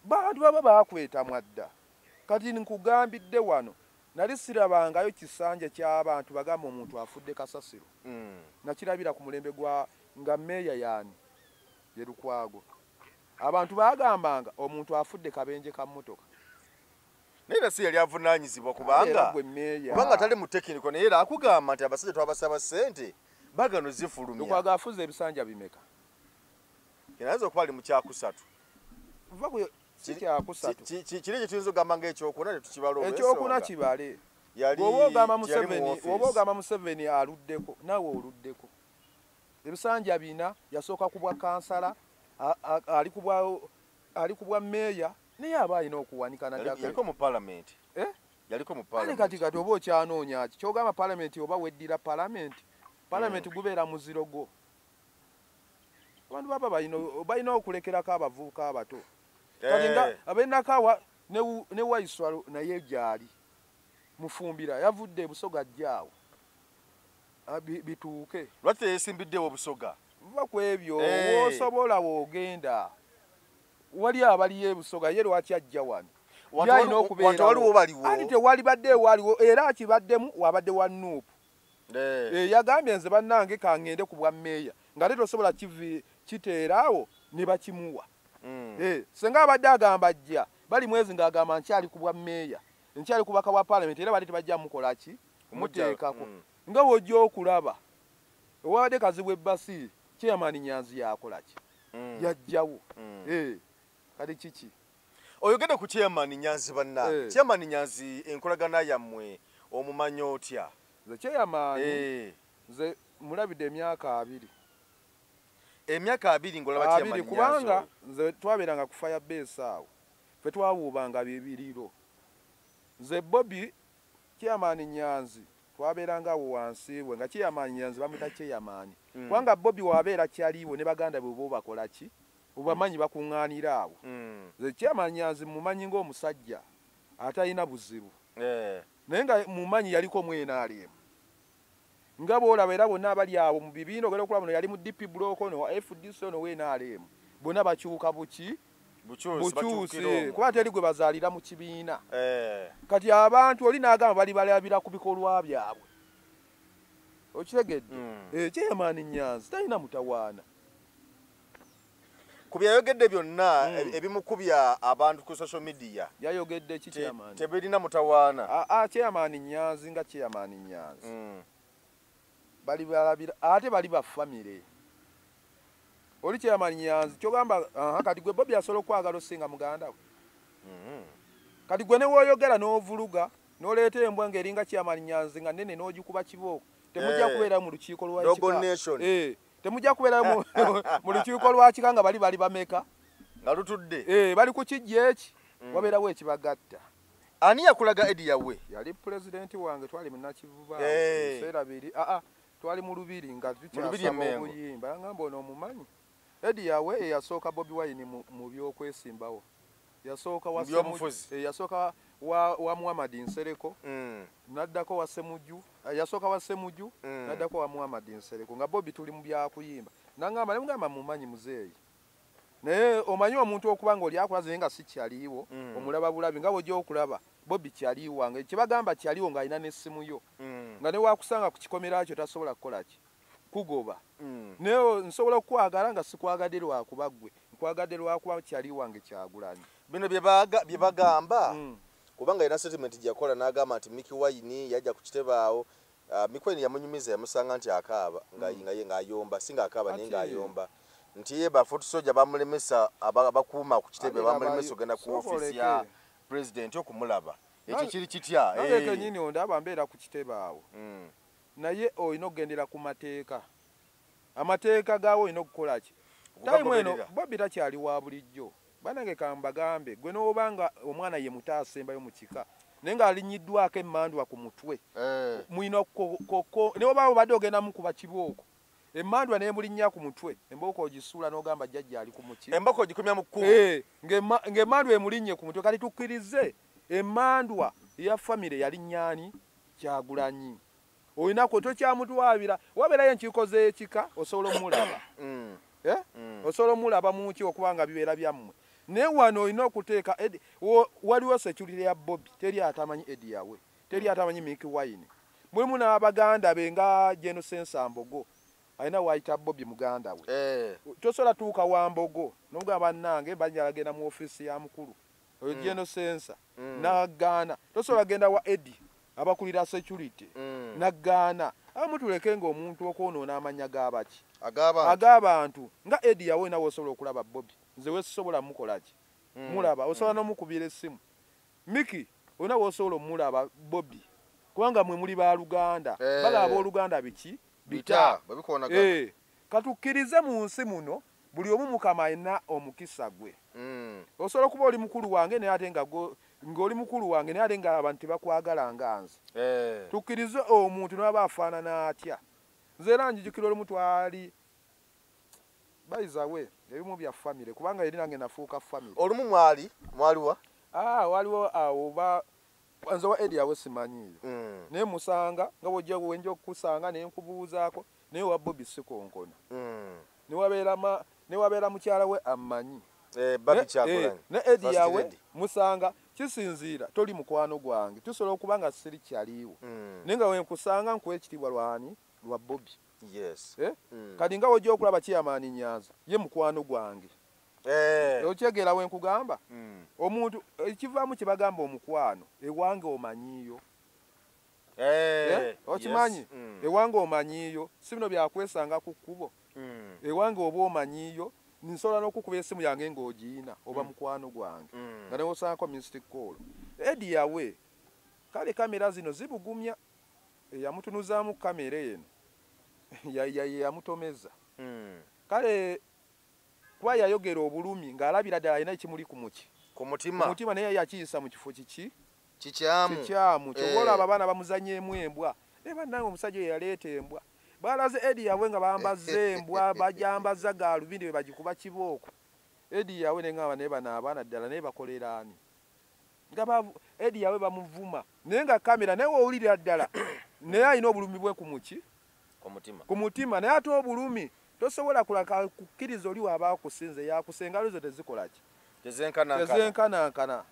bantu baba bakweta mwadda kati nkugambidde wano nali sirabangayo kisanja ky'abantu bagamba omuntu afudde kasasiro mm. nakirabira ku mulembe gwa nga meeya yaani ye lukwago abantu bagambanga omuntu afudde kabenje ka mmotoka naye era si yali avunaanyizibwa kubanga kubanga tali mu tekiniko naye era akugamba nti abasajja twabasaba ssente bagano zifulumyakwaga afuza ebisanja bimeka ayinza okuba ali mu kyakusatu kiri ekyo tuyinza okugamba nga ekyokuna tetukibala ekyokuna kibale oba ogamba museveni aluddeko nawe oluddeko ebisanja bina yasooka kubwa kansala ali kubwa Ali ku bwa meeya naye aba alina okuwanika nayaliko mu palamenti eh? yaliko mu palamenti kati kati oba okyanoonya ki kyogamba palamenti oba weddira palamenti palamenti mm. gubeera muziro gwo abantu baba balina okulekerako abavubuka abato kati nga eh. abenakawa ne waiswalo naye gyali mufumbira yavudde ebusoga jjaawo Ah, bituuke lwaki teyesimbiddewo obusoga va ku ebyo eh. wosobola wogenda wali abaliyo ebusoga ye lwaki ajja wano yalina okubeeraanti tewali badde ewaliwo era akibaddemu wabadde wa nuupu eh. eh, yagambye nze bannange kangende ku bwa meeya nga te tosobola kiteeraawo ne bakimuwa mm. senga abadde agamba jja bali mwezi ng'agamba nkyali ku bwa meeya nkyali kubaka bwa palamenti era bali tebajja mukola ki kumuteekako mm. nga bwojja okulaba owabadde kazibwa ebbasi chairman nyanzi yakola ki mm. yajjawo mm. eh, kati kiki oyogede ku chairman nyanzi banna eh. chairman nyanzi enkolagana yammwe omumanya otya nze chairman eh. nze mulabidde emyaka abiri emyaka abiri ngolaba chairman nyanzi kubanga nze twabeeranga ku fire base awo Ffe twawuuba nga bibiriro. Nze Bobi, Chairman Nyanzi twabeeranga awo wansi we nga Chairman Nyanzi bamuyita Chairman. Kubanga Bobi wabeera chali we ne baganda be oba obakola ki? Obamanyi bakungaanira awo. Nze Chairman Nyanzi mmumanyi ng'omusajja atalina buzibu naye nga mmumanyi yaliko mu nrm. Nga bw'olaba era bonna abali awo mu bibiina ogenda okulaba ono yali mu DP block ono wa FDC ono wa NRM bonna bakyuka buki bukyuse kuba teri gwe bazaalira mu kibiina eh. kati abantu oli n'agamba bali balabira ku bikolwa byabwe okitegedde hmm. eh, chairman nyanzi talina mutawaana ku byayogedde byonna hmm. e, ebimukubya abantu ku social media yayogedde ki chairman tebirina mutawaana a a chairman nyanzi nga chairman nyanzi hmm. bali balabira ate bali ba family oli chairman nyanzi kyogamba kati gwe bobi asobola okwagala osinga muganda we hmm. kati gwe newoyogera n'ovuluga noleeta embwa ngaeringa chairman nyanzi nga nene n'ogikuba kibooko temujja eh. kubeera mu lukiiko lwa eh. temujja kubeerayo mu- mu lukiiko lwakika nga bali bali bameka nga lutudde Eh, bali ku kijja eki wabeerawo ekibagatta ani yakulaga edi yawe yali pulezidenti wange twali munakivuba Eh. ebiseera biri aa twali mu lubiri nga Lubiri e tukyasaba Mengo. obuyimba ngamba ono omumanyi edi yawe eyasooka bobi wayini mu mu by'okwesimbawo yasooka wa byobufuzi eh, yasooka wa, wa muhammad nsereko mm. naddako wa semuju eh, yasooka wa semuju mm. naddako wa muhammad nsereko nga bobi tuli mu byakuyimba nangamba ne mugamba mumanyi muzeeyi naye omanyi omuntu okuba nga oli akulaze naye nga si kyaliiwo mm. omulaba bulabi nga bwojja okulaba bobi kyaliiwo wange kyebagamba kyaliiwo ng'alina n'essimu yo mm. nga newakusanga ku kikomera kyo tasobola kukola ki kugoba mm. naye nsobola okukwagala nga sikwagade lwakuba gwe nkwagade lwakuba kyali wange kyagulanyi bino byebagamba mm. kubanga yena settlement gyakola nagamba nti miki wayini yajja ku kitebaawo uh, ah, mikweni yamunyumiza yamusanga nti akaaba mm. ngaayomba si nga akaaba naye ngaayomba nti ye bafoot soja bamulemesa abakuuma ku kitebe bamulemesa ogenda ku ofisi ya president okumulaba ekyo kiri kitya naye eh. kenyini ondaba mbeera ku kitebe awo mm. naye olina okugendera ku mateeka amateeka gaawo olina okukolaki tayimu eno bobi takyali wa bulijjo banange kambagambe gwe n'oba nga omwana ye muto asembayo mu kika naye ng'alinyiddwako emmandwa ku mutwe eh. mulina koko naye oba obadde ogenda mukuba kibooko emandwa nemulinya ku mutwe emboko ogisuula nogamba jjajja ali ku muki emboko ogikumya mu kkubo eh, ng'emandwa emulinye ku mutwe kati tukkirize emandwa ya famire yali nyani kyagulanyi olina kwe tokyamutwabira wabeerayo enkiiko z'ekika osobola omulaba mm. eh? mm. osobola omulaba muki okuba nga bibeera byammwe naye wano olina okuteeka waliwo security ya bobi teri atamanyi edi yawe teri mm. atamanyi mik wine mulimu n'abaganda be nga genosensa mbogo alina wayita bobi muganda we eh. tosobola tuuka wa mbogo nomugaa bannange banyalagenda mu ofiisi ya mukulu oyo mm. geno sensa mm. nagaana tosobola genda wa edi abakulira security mm. nagaana abamu tuleke nga omuntu okwonoona amanya gabaki ag'abantu nga edi yawe nawe osobola okulaba bobi nze wesisobola mukolaki mm. mulaba osobola mm. nomukubira essimu miki olina wosobola omulaba bobi kubanga mwe muli baluganda eh. bala aboluganda biki bita eh. Katukkirize mu nsi muno buli omu mukama alina omukisa gwe. Mm. Osobola okuba oli mukulu wange naye ate nga ng'oli mukulu wange naye ate nga abantu tebakwagala nga nze. Eh. Tukkirize omuntu n'aba afaanana atya. Nze era njijukira olumu twali bayizawe ebimu bya famire kubanga yali nange nafuuka famire. Olumu mwali mwaliwa? Ah, waliwo awo ba nze wa edi awo simanyiiyo mm. naye musanga nga bwojja wenja okukusanga ne nkubuuzaako naye owa bobi sikonkona mm. newabeera mukyala we amanyi eh, eh, ne edi yawe musanga kisinziira toli mukwano gwange tusobola okuba nga siri kyaliiwo mm. naye nga wenkusanga nkuwa ekitiibwa lwani lwa bobi yes. eh? mm. kati nga wojja okulaba kiyamaani nyanza ye mukwano gwange eh. okyegeera wenkugamba mm. omuntu ekivaamu kyebagamba omukwano ewange omanyiiyo Eh, eh, okimanyi mm. ewange omanyiyo si bino byakwesanga ku kkubo mm. ewange oba omanyiyo nsobola n'okukuba esimu yange ng'ogiina oba mm. mukwano gwange nga newosangako mystic call edi yawe kale kamera zino zibugumya eyamutunuzaamu kamera eno yamutomeza kale kuba yayogera obulumi ng'alabira ddala alina ekimuli ku muki ku mutima naye yakiyisa mu kifo kiki kikyamu kikyamu eh. kyoba olaba abaana bamuzanyemu embwa naye bannange omusajja oyo yaleeta embwa baalaze edi yabwe nga bambazza embwa bajambazza gaalubindi be bagikuba kibooko edi yabwe naye ngamba naye bano abaana ddala naye bakolera ani nga edi yabwe bamuvuma naye nga kamera naye wowulirira ddala naye alina obulumi bwe ku muki ku mutima naye ate obulumi tosobola kulaka kukkiriza oli waba akusinze yakusa engalo zo tezikolaki tezenkanankana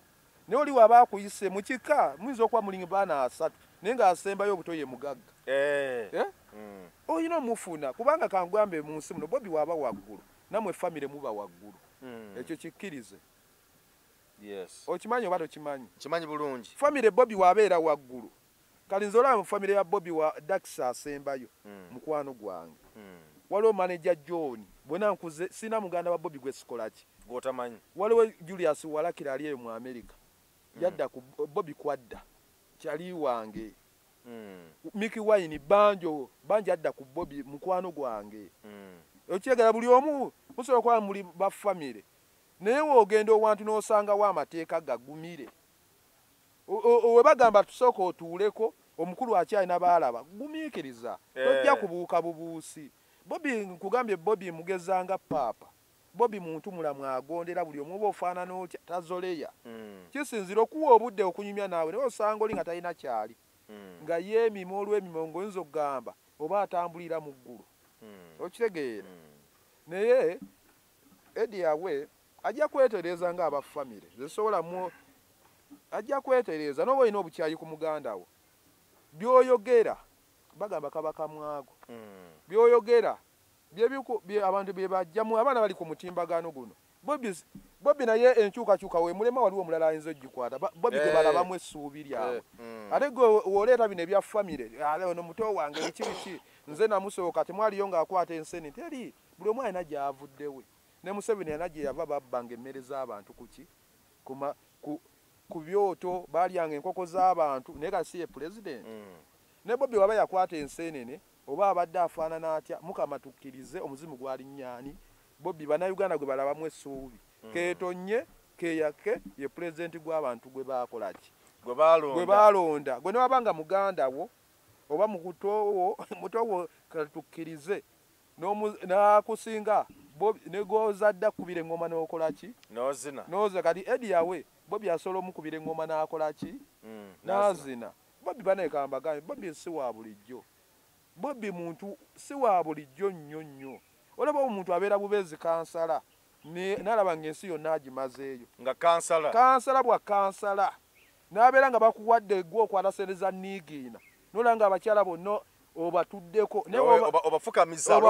naye oli waba akuyise mu kika muyinza okuba mulinga baana asatu naye ng'asembayo obuto ye mugagga eh. Eh? Hmm. olina omufuna kubanga kangwambe mu nsi muno bobi waba waggulu namwe famire muba waggulu hmm. ekyo kikkirize okimanyi oba tokimanyi kimanyi bulungi famire bobi wabeera waggulu Kale nze olaba mu family ya Bobi wa Dax asembayo mukwano gwange. Waliwo manager John bwena nkuze sirina muganda wa Bobi gwesikolaki. Gwotamanyi. Waliwo Julius walakira ali eyo mu America yadda ku Bobi kwadda chali wange. Mickey Wine banjo banji adda ku Bobi mukwano gwange. Okyegera buli omu musobola okuba muli ba family naye wogenda owantu nosangawo amateeka gagumire. webagamba tusooka otuuleko omukulu akyalina baalaba gumiikiriza eh. tojja kubuuka bubuusi bobi nkugambye bobi mugezanga paapa bobi muntu mulamu agondera buli omu oba ofaanana otya tazoleya hmm. kisinzira okuwa obudde okunyumya naawe naye osanga oli nga talina kyali hmm. nga yeemima olw'emima ngaoyinza okugamba oba atambulira mu ggulu hmm. okitegeera naye edi yabwe ajja kwetereeza nga aba famire zesobola mu ajja kwetereeza noba olina obukyayi ku muganda wo byoyogera bagamba kaba kamwago hmm. byoyogera abantu byebajjamu abaana bali ku mutimbagano guno bobi naye enkyukakyuka wemulema waliwo omulala ayinza ogikwata bobi eh. gwebalabamu essuubi lyabwe eh, hmm. ate gwe woleeta bino ebya famire ono muto wange biki biki nze namusooka temwaliyo ngaakwata enseni teri buli omu alina gyavuddewe Ne Museveni yalina gyeyava babbanga emmere z'abantu kuki? Kuma, ku, ku byoto baalyanga enkoko z'abantu naye kati si ye Pulezidenti? Mm. Ne Bobi waba yakwata enseenene oba abadde afaanana atya mukama tukkirize omuzimu gwalinnya ani? Bobi bannayuganda gwe balabamu essuubi mm. keetonnye keeyakke ye Pulezidenti gw'abantu gwe baakola ki? Gwe baalonda. Gwe baalonda. Gwe ne waba nga muganda wo oba mukuto wo muto wo katukkirize nakusinga negozadde akukubira eŋoma nokolaki nozina noza kati edi yawe bobi asobola omukubira eŋoma nakolaki mm, nazina bobi banekambagambye bobi si wa bulijjo bobi muntu si wa bulijjo nnyo nnyo olaba omuntu abeera bubeezi kansala nalaba nga ensi yonna agimazeeyo nga kansala kansala bwa kansala Nabeera nga bakuwadde gwe okwata sente za niigiina nolaba nga abakyala bonna obatuddeko obafukamiza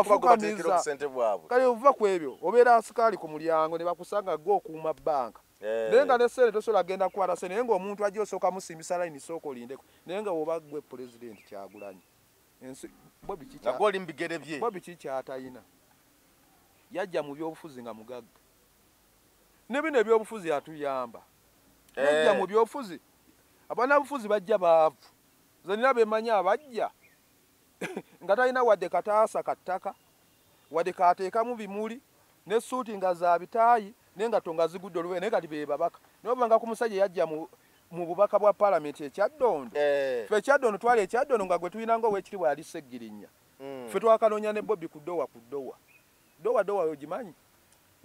kale ova ku ebyo obeera nsikaali ku mulyango ne bakusanga gwe okuuma bbanka eh. naye nga ne sente tosobola genda kukwata sente naye ngaomuntu ajja osooka musimbisa layini sooka olindeko naye nga woba gwe pulezidenti kyagulanyi oli mubigere bye bo biki kyatalina yajja mu byobufuzi nga mugagga ne bino ebyobufuzi atuyamba nojja eh. mu byofuzi abanabufuzi bajja baavu nze nina bemanyi abajja nga talina wadde kataasa ka ttaka wadde kateekamu bimuli ne suuti nga za bitaayi naye nga tonga zigudde olube naye kati bebabaka naye obanga ku musajja yajja mu mu bubaka bwa palamenti ekyaddondo eh. fe ekyaddondo twali ekyaddondo nga gwe tulina nga owekiri bwali seggirinya hmm. fe twakanoonya ne bobi ku dowa ku dowa dowa dowa ogimanyi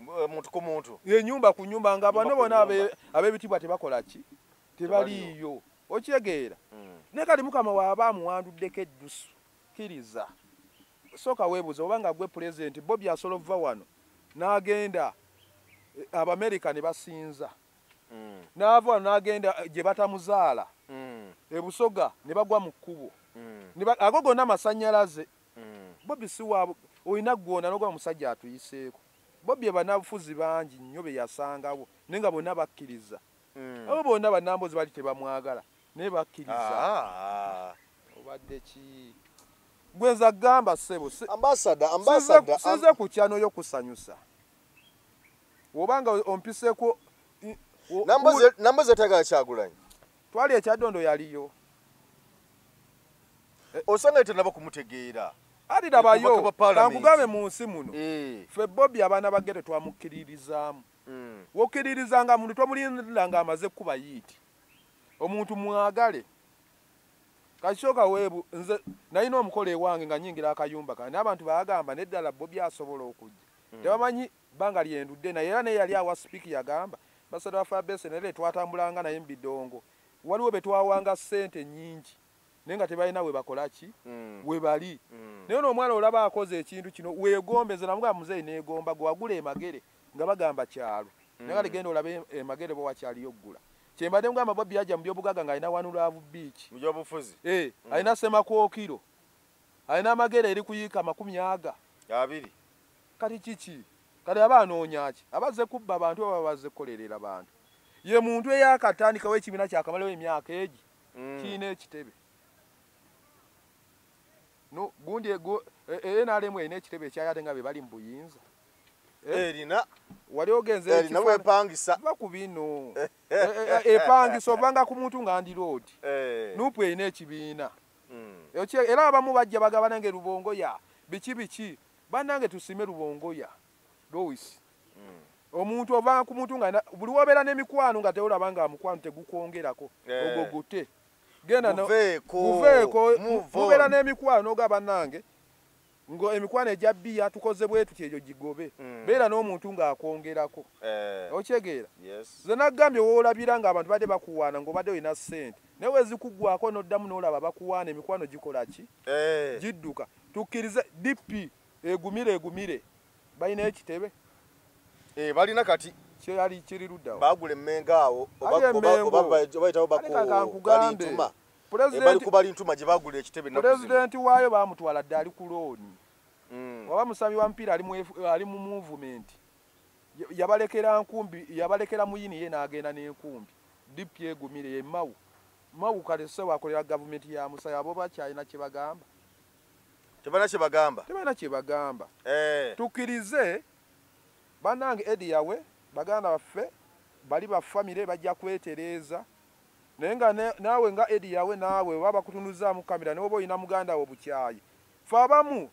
eh, muntu ku muntu ye nyumba ku nyumba nga bano bona abebitibwa tebakola ki tebaliyo okitegeera hmm. ne kati mukama waaba amuwanduddeko eddusu kiriza sooka weebuza oba nga gwe pulezidenti bobi asobola okuva wano n'agenda eh, abamerica ne basinza hmm. n'ava wano n'agenda eh, gye batamuzaala hmm. ebusoga ne bagwa mu kkubo ago gonna amasannyalaze mm. bobi siwa olina gwona nogoba musajja atuyiseeko bobi ebanabufuzi bangi nnyo beyasangawo naye nga bonna bakkiriza mm. abo bonna banambozi bali tebamwagala naye bakkiriza ah. obadde ki gwenza gamba ssebo size ku kyanoyo kusanyusa obanga ompiseeko nambozi etagala kyagulanyi Twali ekyadondo yaliyo. Eh, osanga etanaba kumutegeera. Ali dabayo. Kankugabe mu nsi muno. Eh. Fe Bobby abana bagere twamukiririzaamu. Mm. Wokiririzanga muntu tomulinda nga amaze kuba yiti. Omuntu mwagale. Kashoka webu nze naino omukole wange nga nyingira akayumba kana abantu baagamba ne dala Bobby asobola okujja. Mm. Tebamanyi Bbanga lye ndudde naye era n'eyali awa Speke yagamba, Ambasada waffe Abese naye be twatambulanga naye mu bidongo waliwo be twawanga ssente nnyingi naye nga tebalina we bakola ki we bali. Naye ono omwana olaba akoze ekintu kino weegombe. Nze namugamba muzeeyi neegomba gwe wagula e Magere nga bagamba kyalo naye kati genda olabe e Magere oba wakyaliyo okugula. Kye mbadde mugamba Bobi yajja mu byobugagga ng'alina One Love Beach, alina Ssemakookiro, alina Magere eri ku yiika amakumi aga abiri. kati kiki kati aba anoonyaki abazze kubba abantu aba bazze kukolerera bantu ye muntu eyakatandikawo ekibiina kyakamalawo emyaka egi mm. kirina ekitebe gundi e, e, nrm erina ekitebe ekyayo ate nga be bali mu buyinza eh? erina wali ogenzebakubiinoepangisa eh. ovanga ku muntu nga ndi loodi eh. nupu erina ekibiina mm. era abamu bajja bagabana nga erubongo ya biki biki Banange tusime lubongoya Lois omuntu ova ku muntu nga buli wobeera n'emikwano nga teolaba nga mukwano tegukwongerako eh. ogwo gute genda guveeko mubeera n'emikwano oga banange nga emikwano egya bbiya tukoze bwe tuti egyo gigobe hmm. beera n'omuntu ng'akwongerako eh. okyegeera ze nagambye woolabira ng'abantu badde bakuwaana ng'obadde olina ssente naye wezikugwako noddamu nolaba bakuwaana emikwano gikola ki eh. gidduka tukkirize dp egumire egumire balina ekitebe eh, balina kati kyeyali kiri luddawo bagula emmenga awo obabayitawo bakubalintuma ebali ku balintuma gye bagula ekitebe pulezidenti waayo bamutwala dde ali ku looni mm. waba musambi wa mupiira ali mu muvumenti yabalekera nkumbi yabalekera muyini ye n'agenda n'enkumbi dipu yegumire ye mawu mawu kale sewa akolera gavumenti ya musaya abo bakyalina kye bagamba tebalina kye bagamba tebalina kye bagamba eh. tukirize banange edi yawe baganda baffe bali bafamire bajja kwetereeza naye nga naawe nga edi yawe naawe oba bakutunuzaamu kamera newoba olina muganda wo bukyayi fe abamu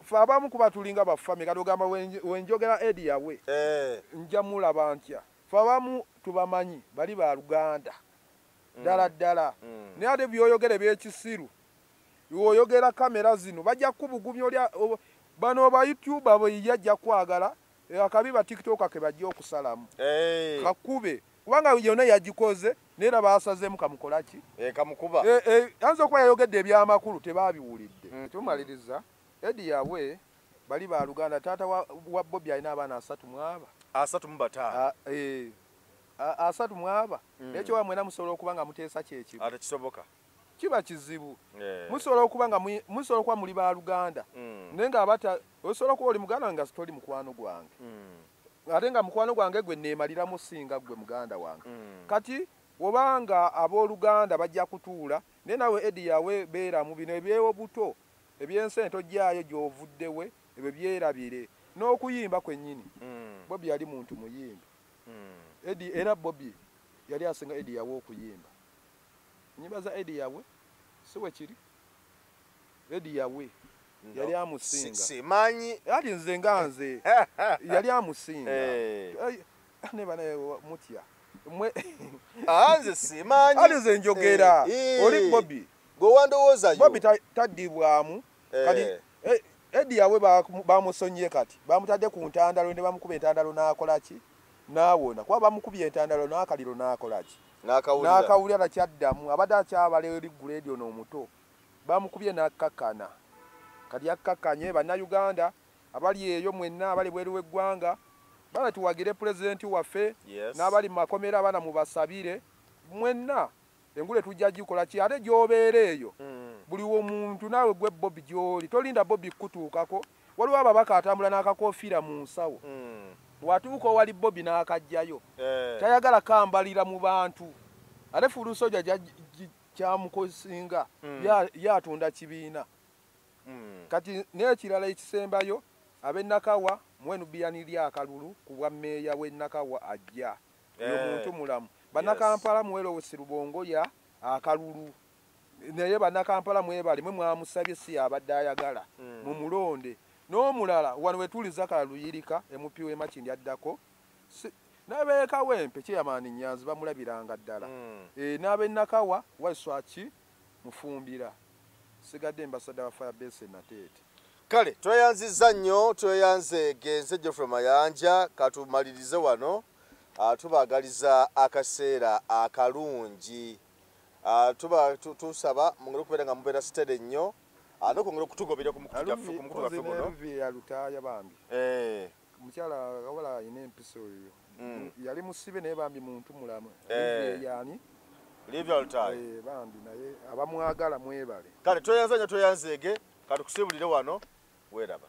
fe abamu kuba tulinga ba family kati ogamba wenjogera edi yawe eh. nja mulaba ntya fe abamu tubamanyi bali ba luganda mm. ddala ddala mm. naye ate byoyogere byekisiru oyogera kamera zino bajja kubugumya olya bano ba youtube abo yajja kwagala Eh, akabi ba tiktoka kebajja okusalamu eh. kakube kubanga yona yagikoze naye era baasazemu kamukolaki eh, kamukuba ayinza okuba yayogedde ebyamakulu tebabiwulidde mm. tumaliriza edi yawe bali ba luganda taata wa bobi alina abaana asatu mwaba asatu mubataano ah, asatu mwaba mm. nekyo wamwena musobola okuba nga muteesa kyekimu ate kisoboka kiba kizibu eh. musobola okuba nga musobola okuba muli baluganda mm. naye nga abata osobola okuba oli muganda nga sitoli mukwano gwange mm. ate nga mukwano gwange gwe neemaliramu singa gwe muganda wange mm. kati obanga abooluganda bajja kutuula naye nawe edi yawe beeramu bino ebyewo buto ebyensi ento gyayo gyovuddewe ebyo byerabire n'okuyimba kwennyini bobi yali muntu muyimbi edi era bobi yali asinga edi yawe okuyimba Enyimba za Eddie Yawe si bwe kiri? Eddie Yawe yali amusinga. Simanyi. Yali nze nga nze yali amusinga. Eh. Eh, ne bana mutya. Mwe ah, nze simanyi. Ali nze njogera. Eh, Oli Bobby. Gwe wandowooza yo. Bobby tadibwamu. Kati Eddie Yawe bamusonyiye kati. Bamutadde ku ntandalo ne bamukuba entandalo n'akola ki? N'awona. Kuba bamukubye entandalo n'akaliro n'akola ki? n'akawulira takyaddamu abadde akyabala eri guleedi ono omuto bamukubye n'akkakkana kati akkakkanye bannayuganda abali eyo mwenna abali bweru w'eggwanga bana tuwagire pulezidenti waffe n'abali mu makomera abana mubasabire mwenna engule tujja gikola ki ate gy'obeera eyo mm. buli womuntu naawe gwe bobi gy'oli tolinda bobi kukutuukako waliwo ababaka atambula n'akakoofiira mu nsawo hmm. watuuka owali bobi n'akajjayo eh. tayagala kambalira mu bantu ate fulusoja kyamukosinga hmm. yatunda kibiina hmm. kati n'ekirala ekisembayo ab'enakawa mwenubiyani lyakalulu ku bwa meeya w'enakawa ajja oyo eh. muntu mulamu banakampala mwelowesi lubongoya akalulu naye banakampala mwebale mwe mwamusabye si yabadde ayagala mm. mu mulonde n'omulala wano wetuli zakala luyirika emupi wemakindi addako nabeekawempe kyeyamaani nyanzi bamulabiranga ddala mm. e, eh, n'abenakawa waiswaki mufumbira sigadde embasada wa fire base nateete kale tweyanziza nnyo tweyanze genze geoffrey mayanja katumalirize wano ah, tubagaliza akaseera akalungi Ah, tuba tusaba mungere okubeera nga mubeera sitede nnyo ah, nokwongera okutugobera ku mukutu gaffe ku mukutu gaffe guno yalutaaya bambi eh. omukyala wabala alina empisa oyo hmm. yali musibe naye bambi muntu mulamu eh. yani eh, bambi naye abamwagala mwebale kale tweyanza nyo tweyanzeege katukusibulire wano weeraba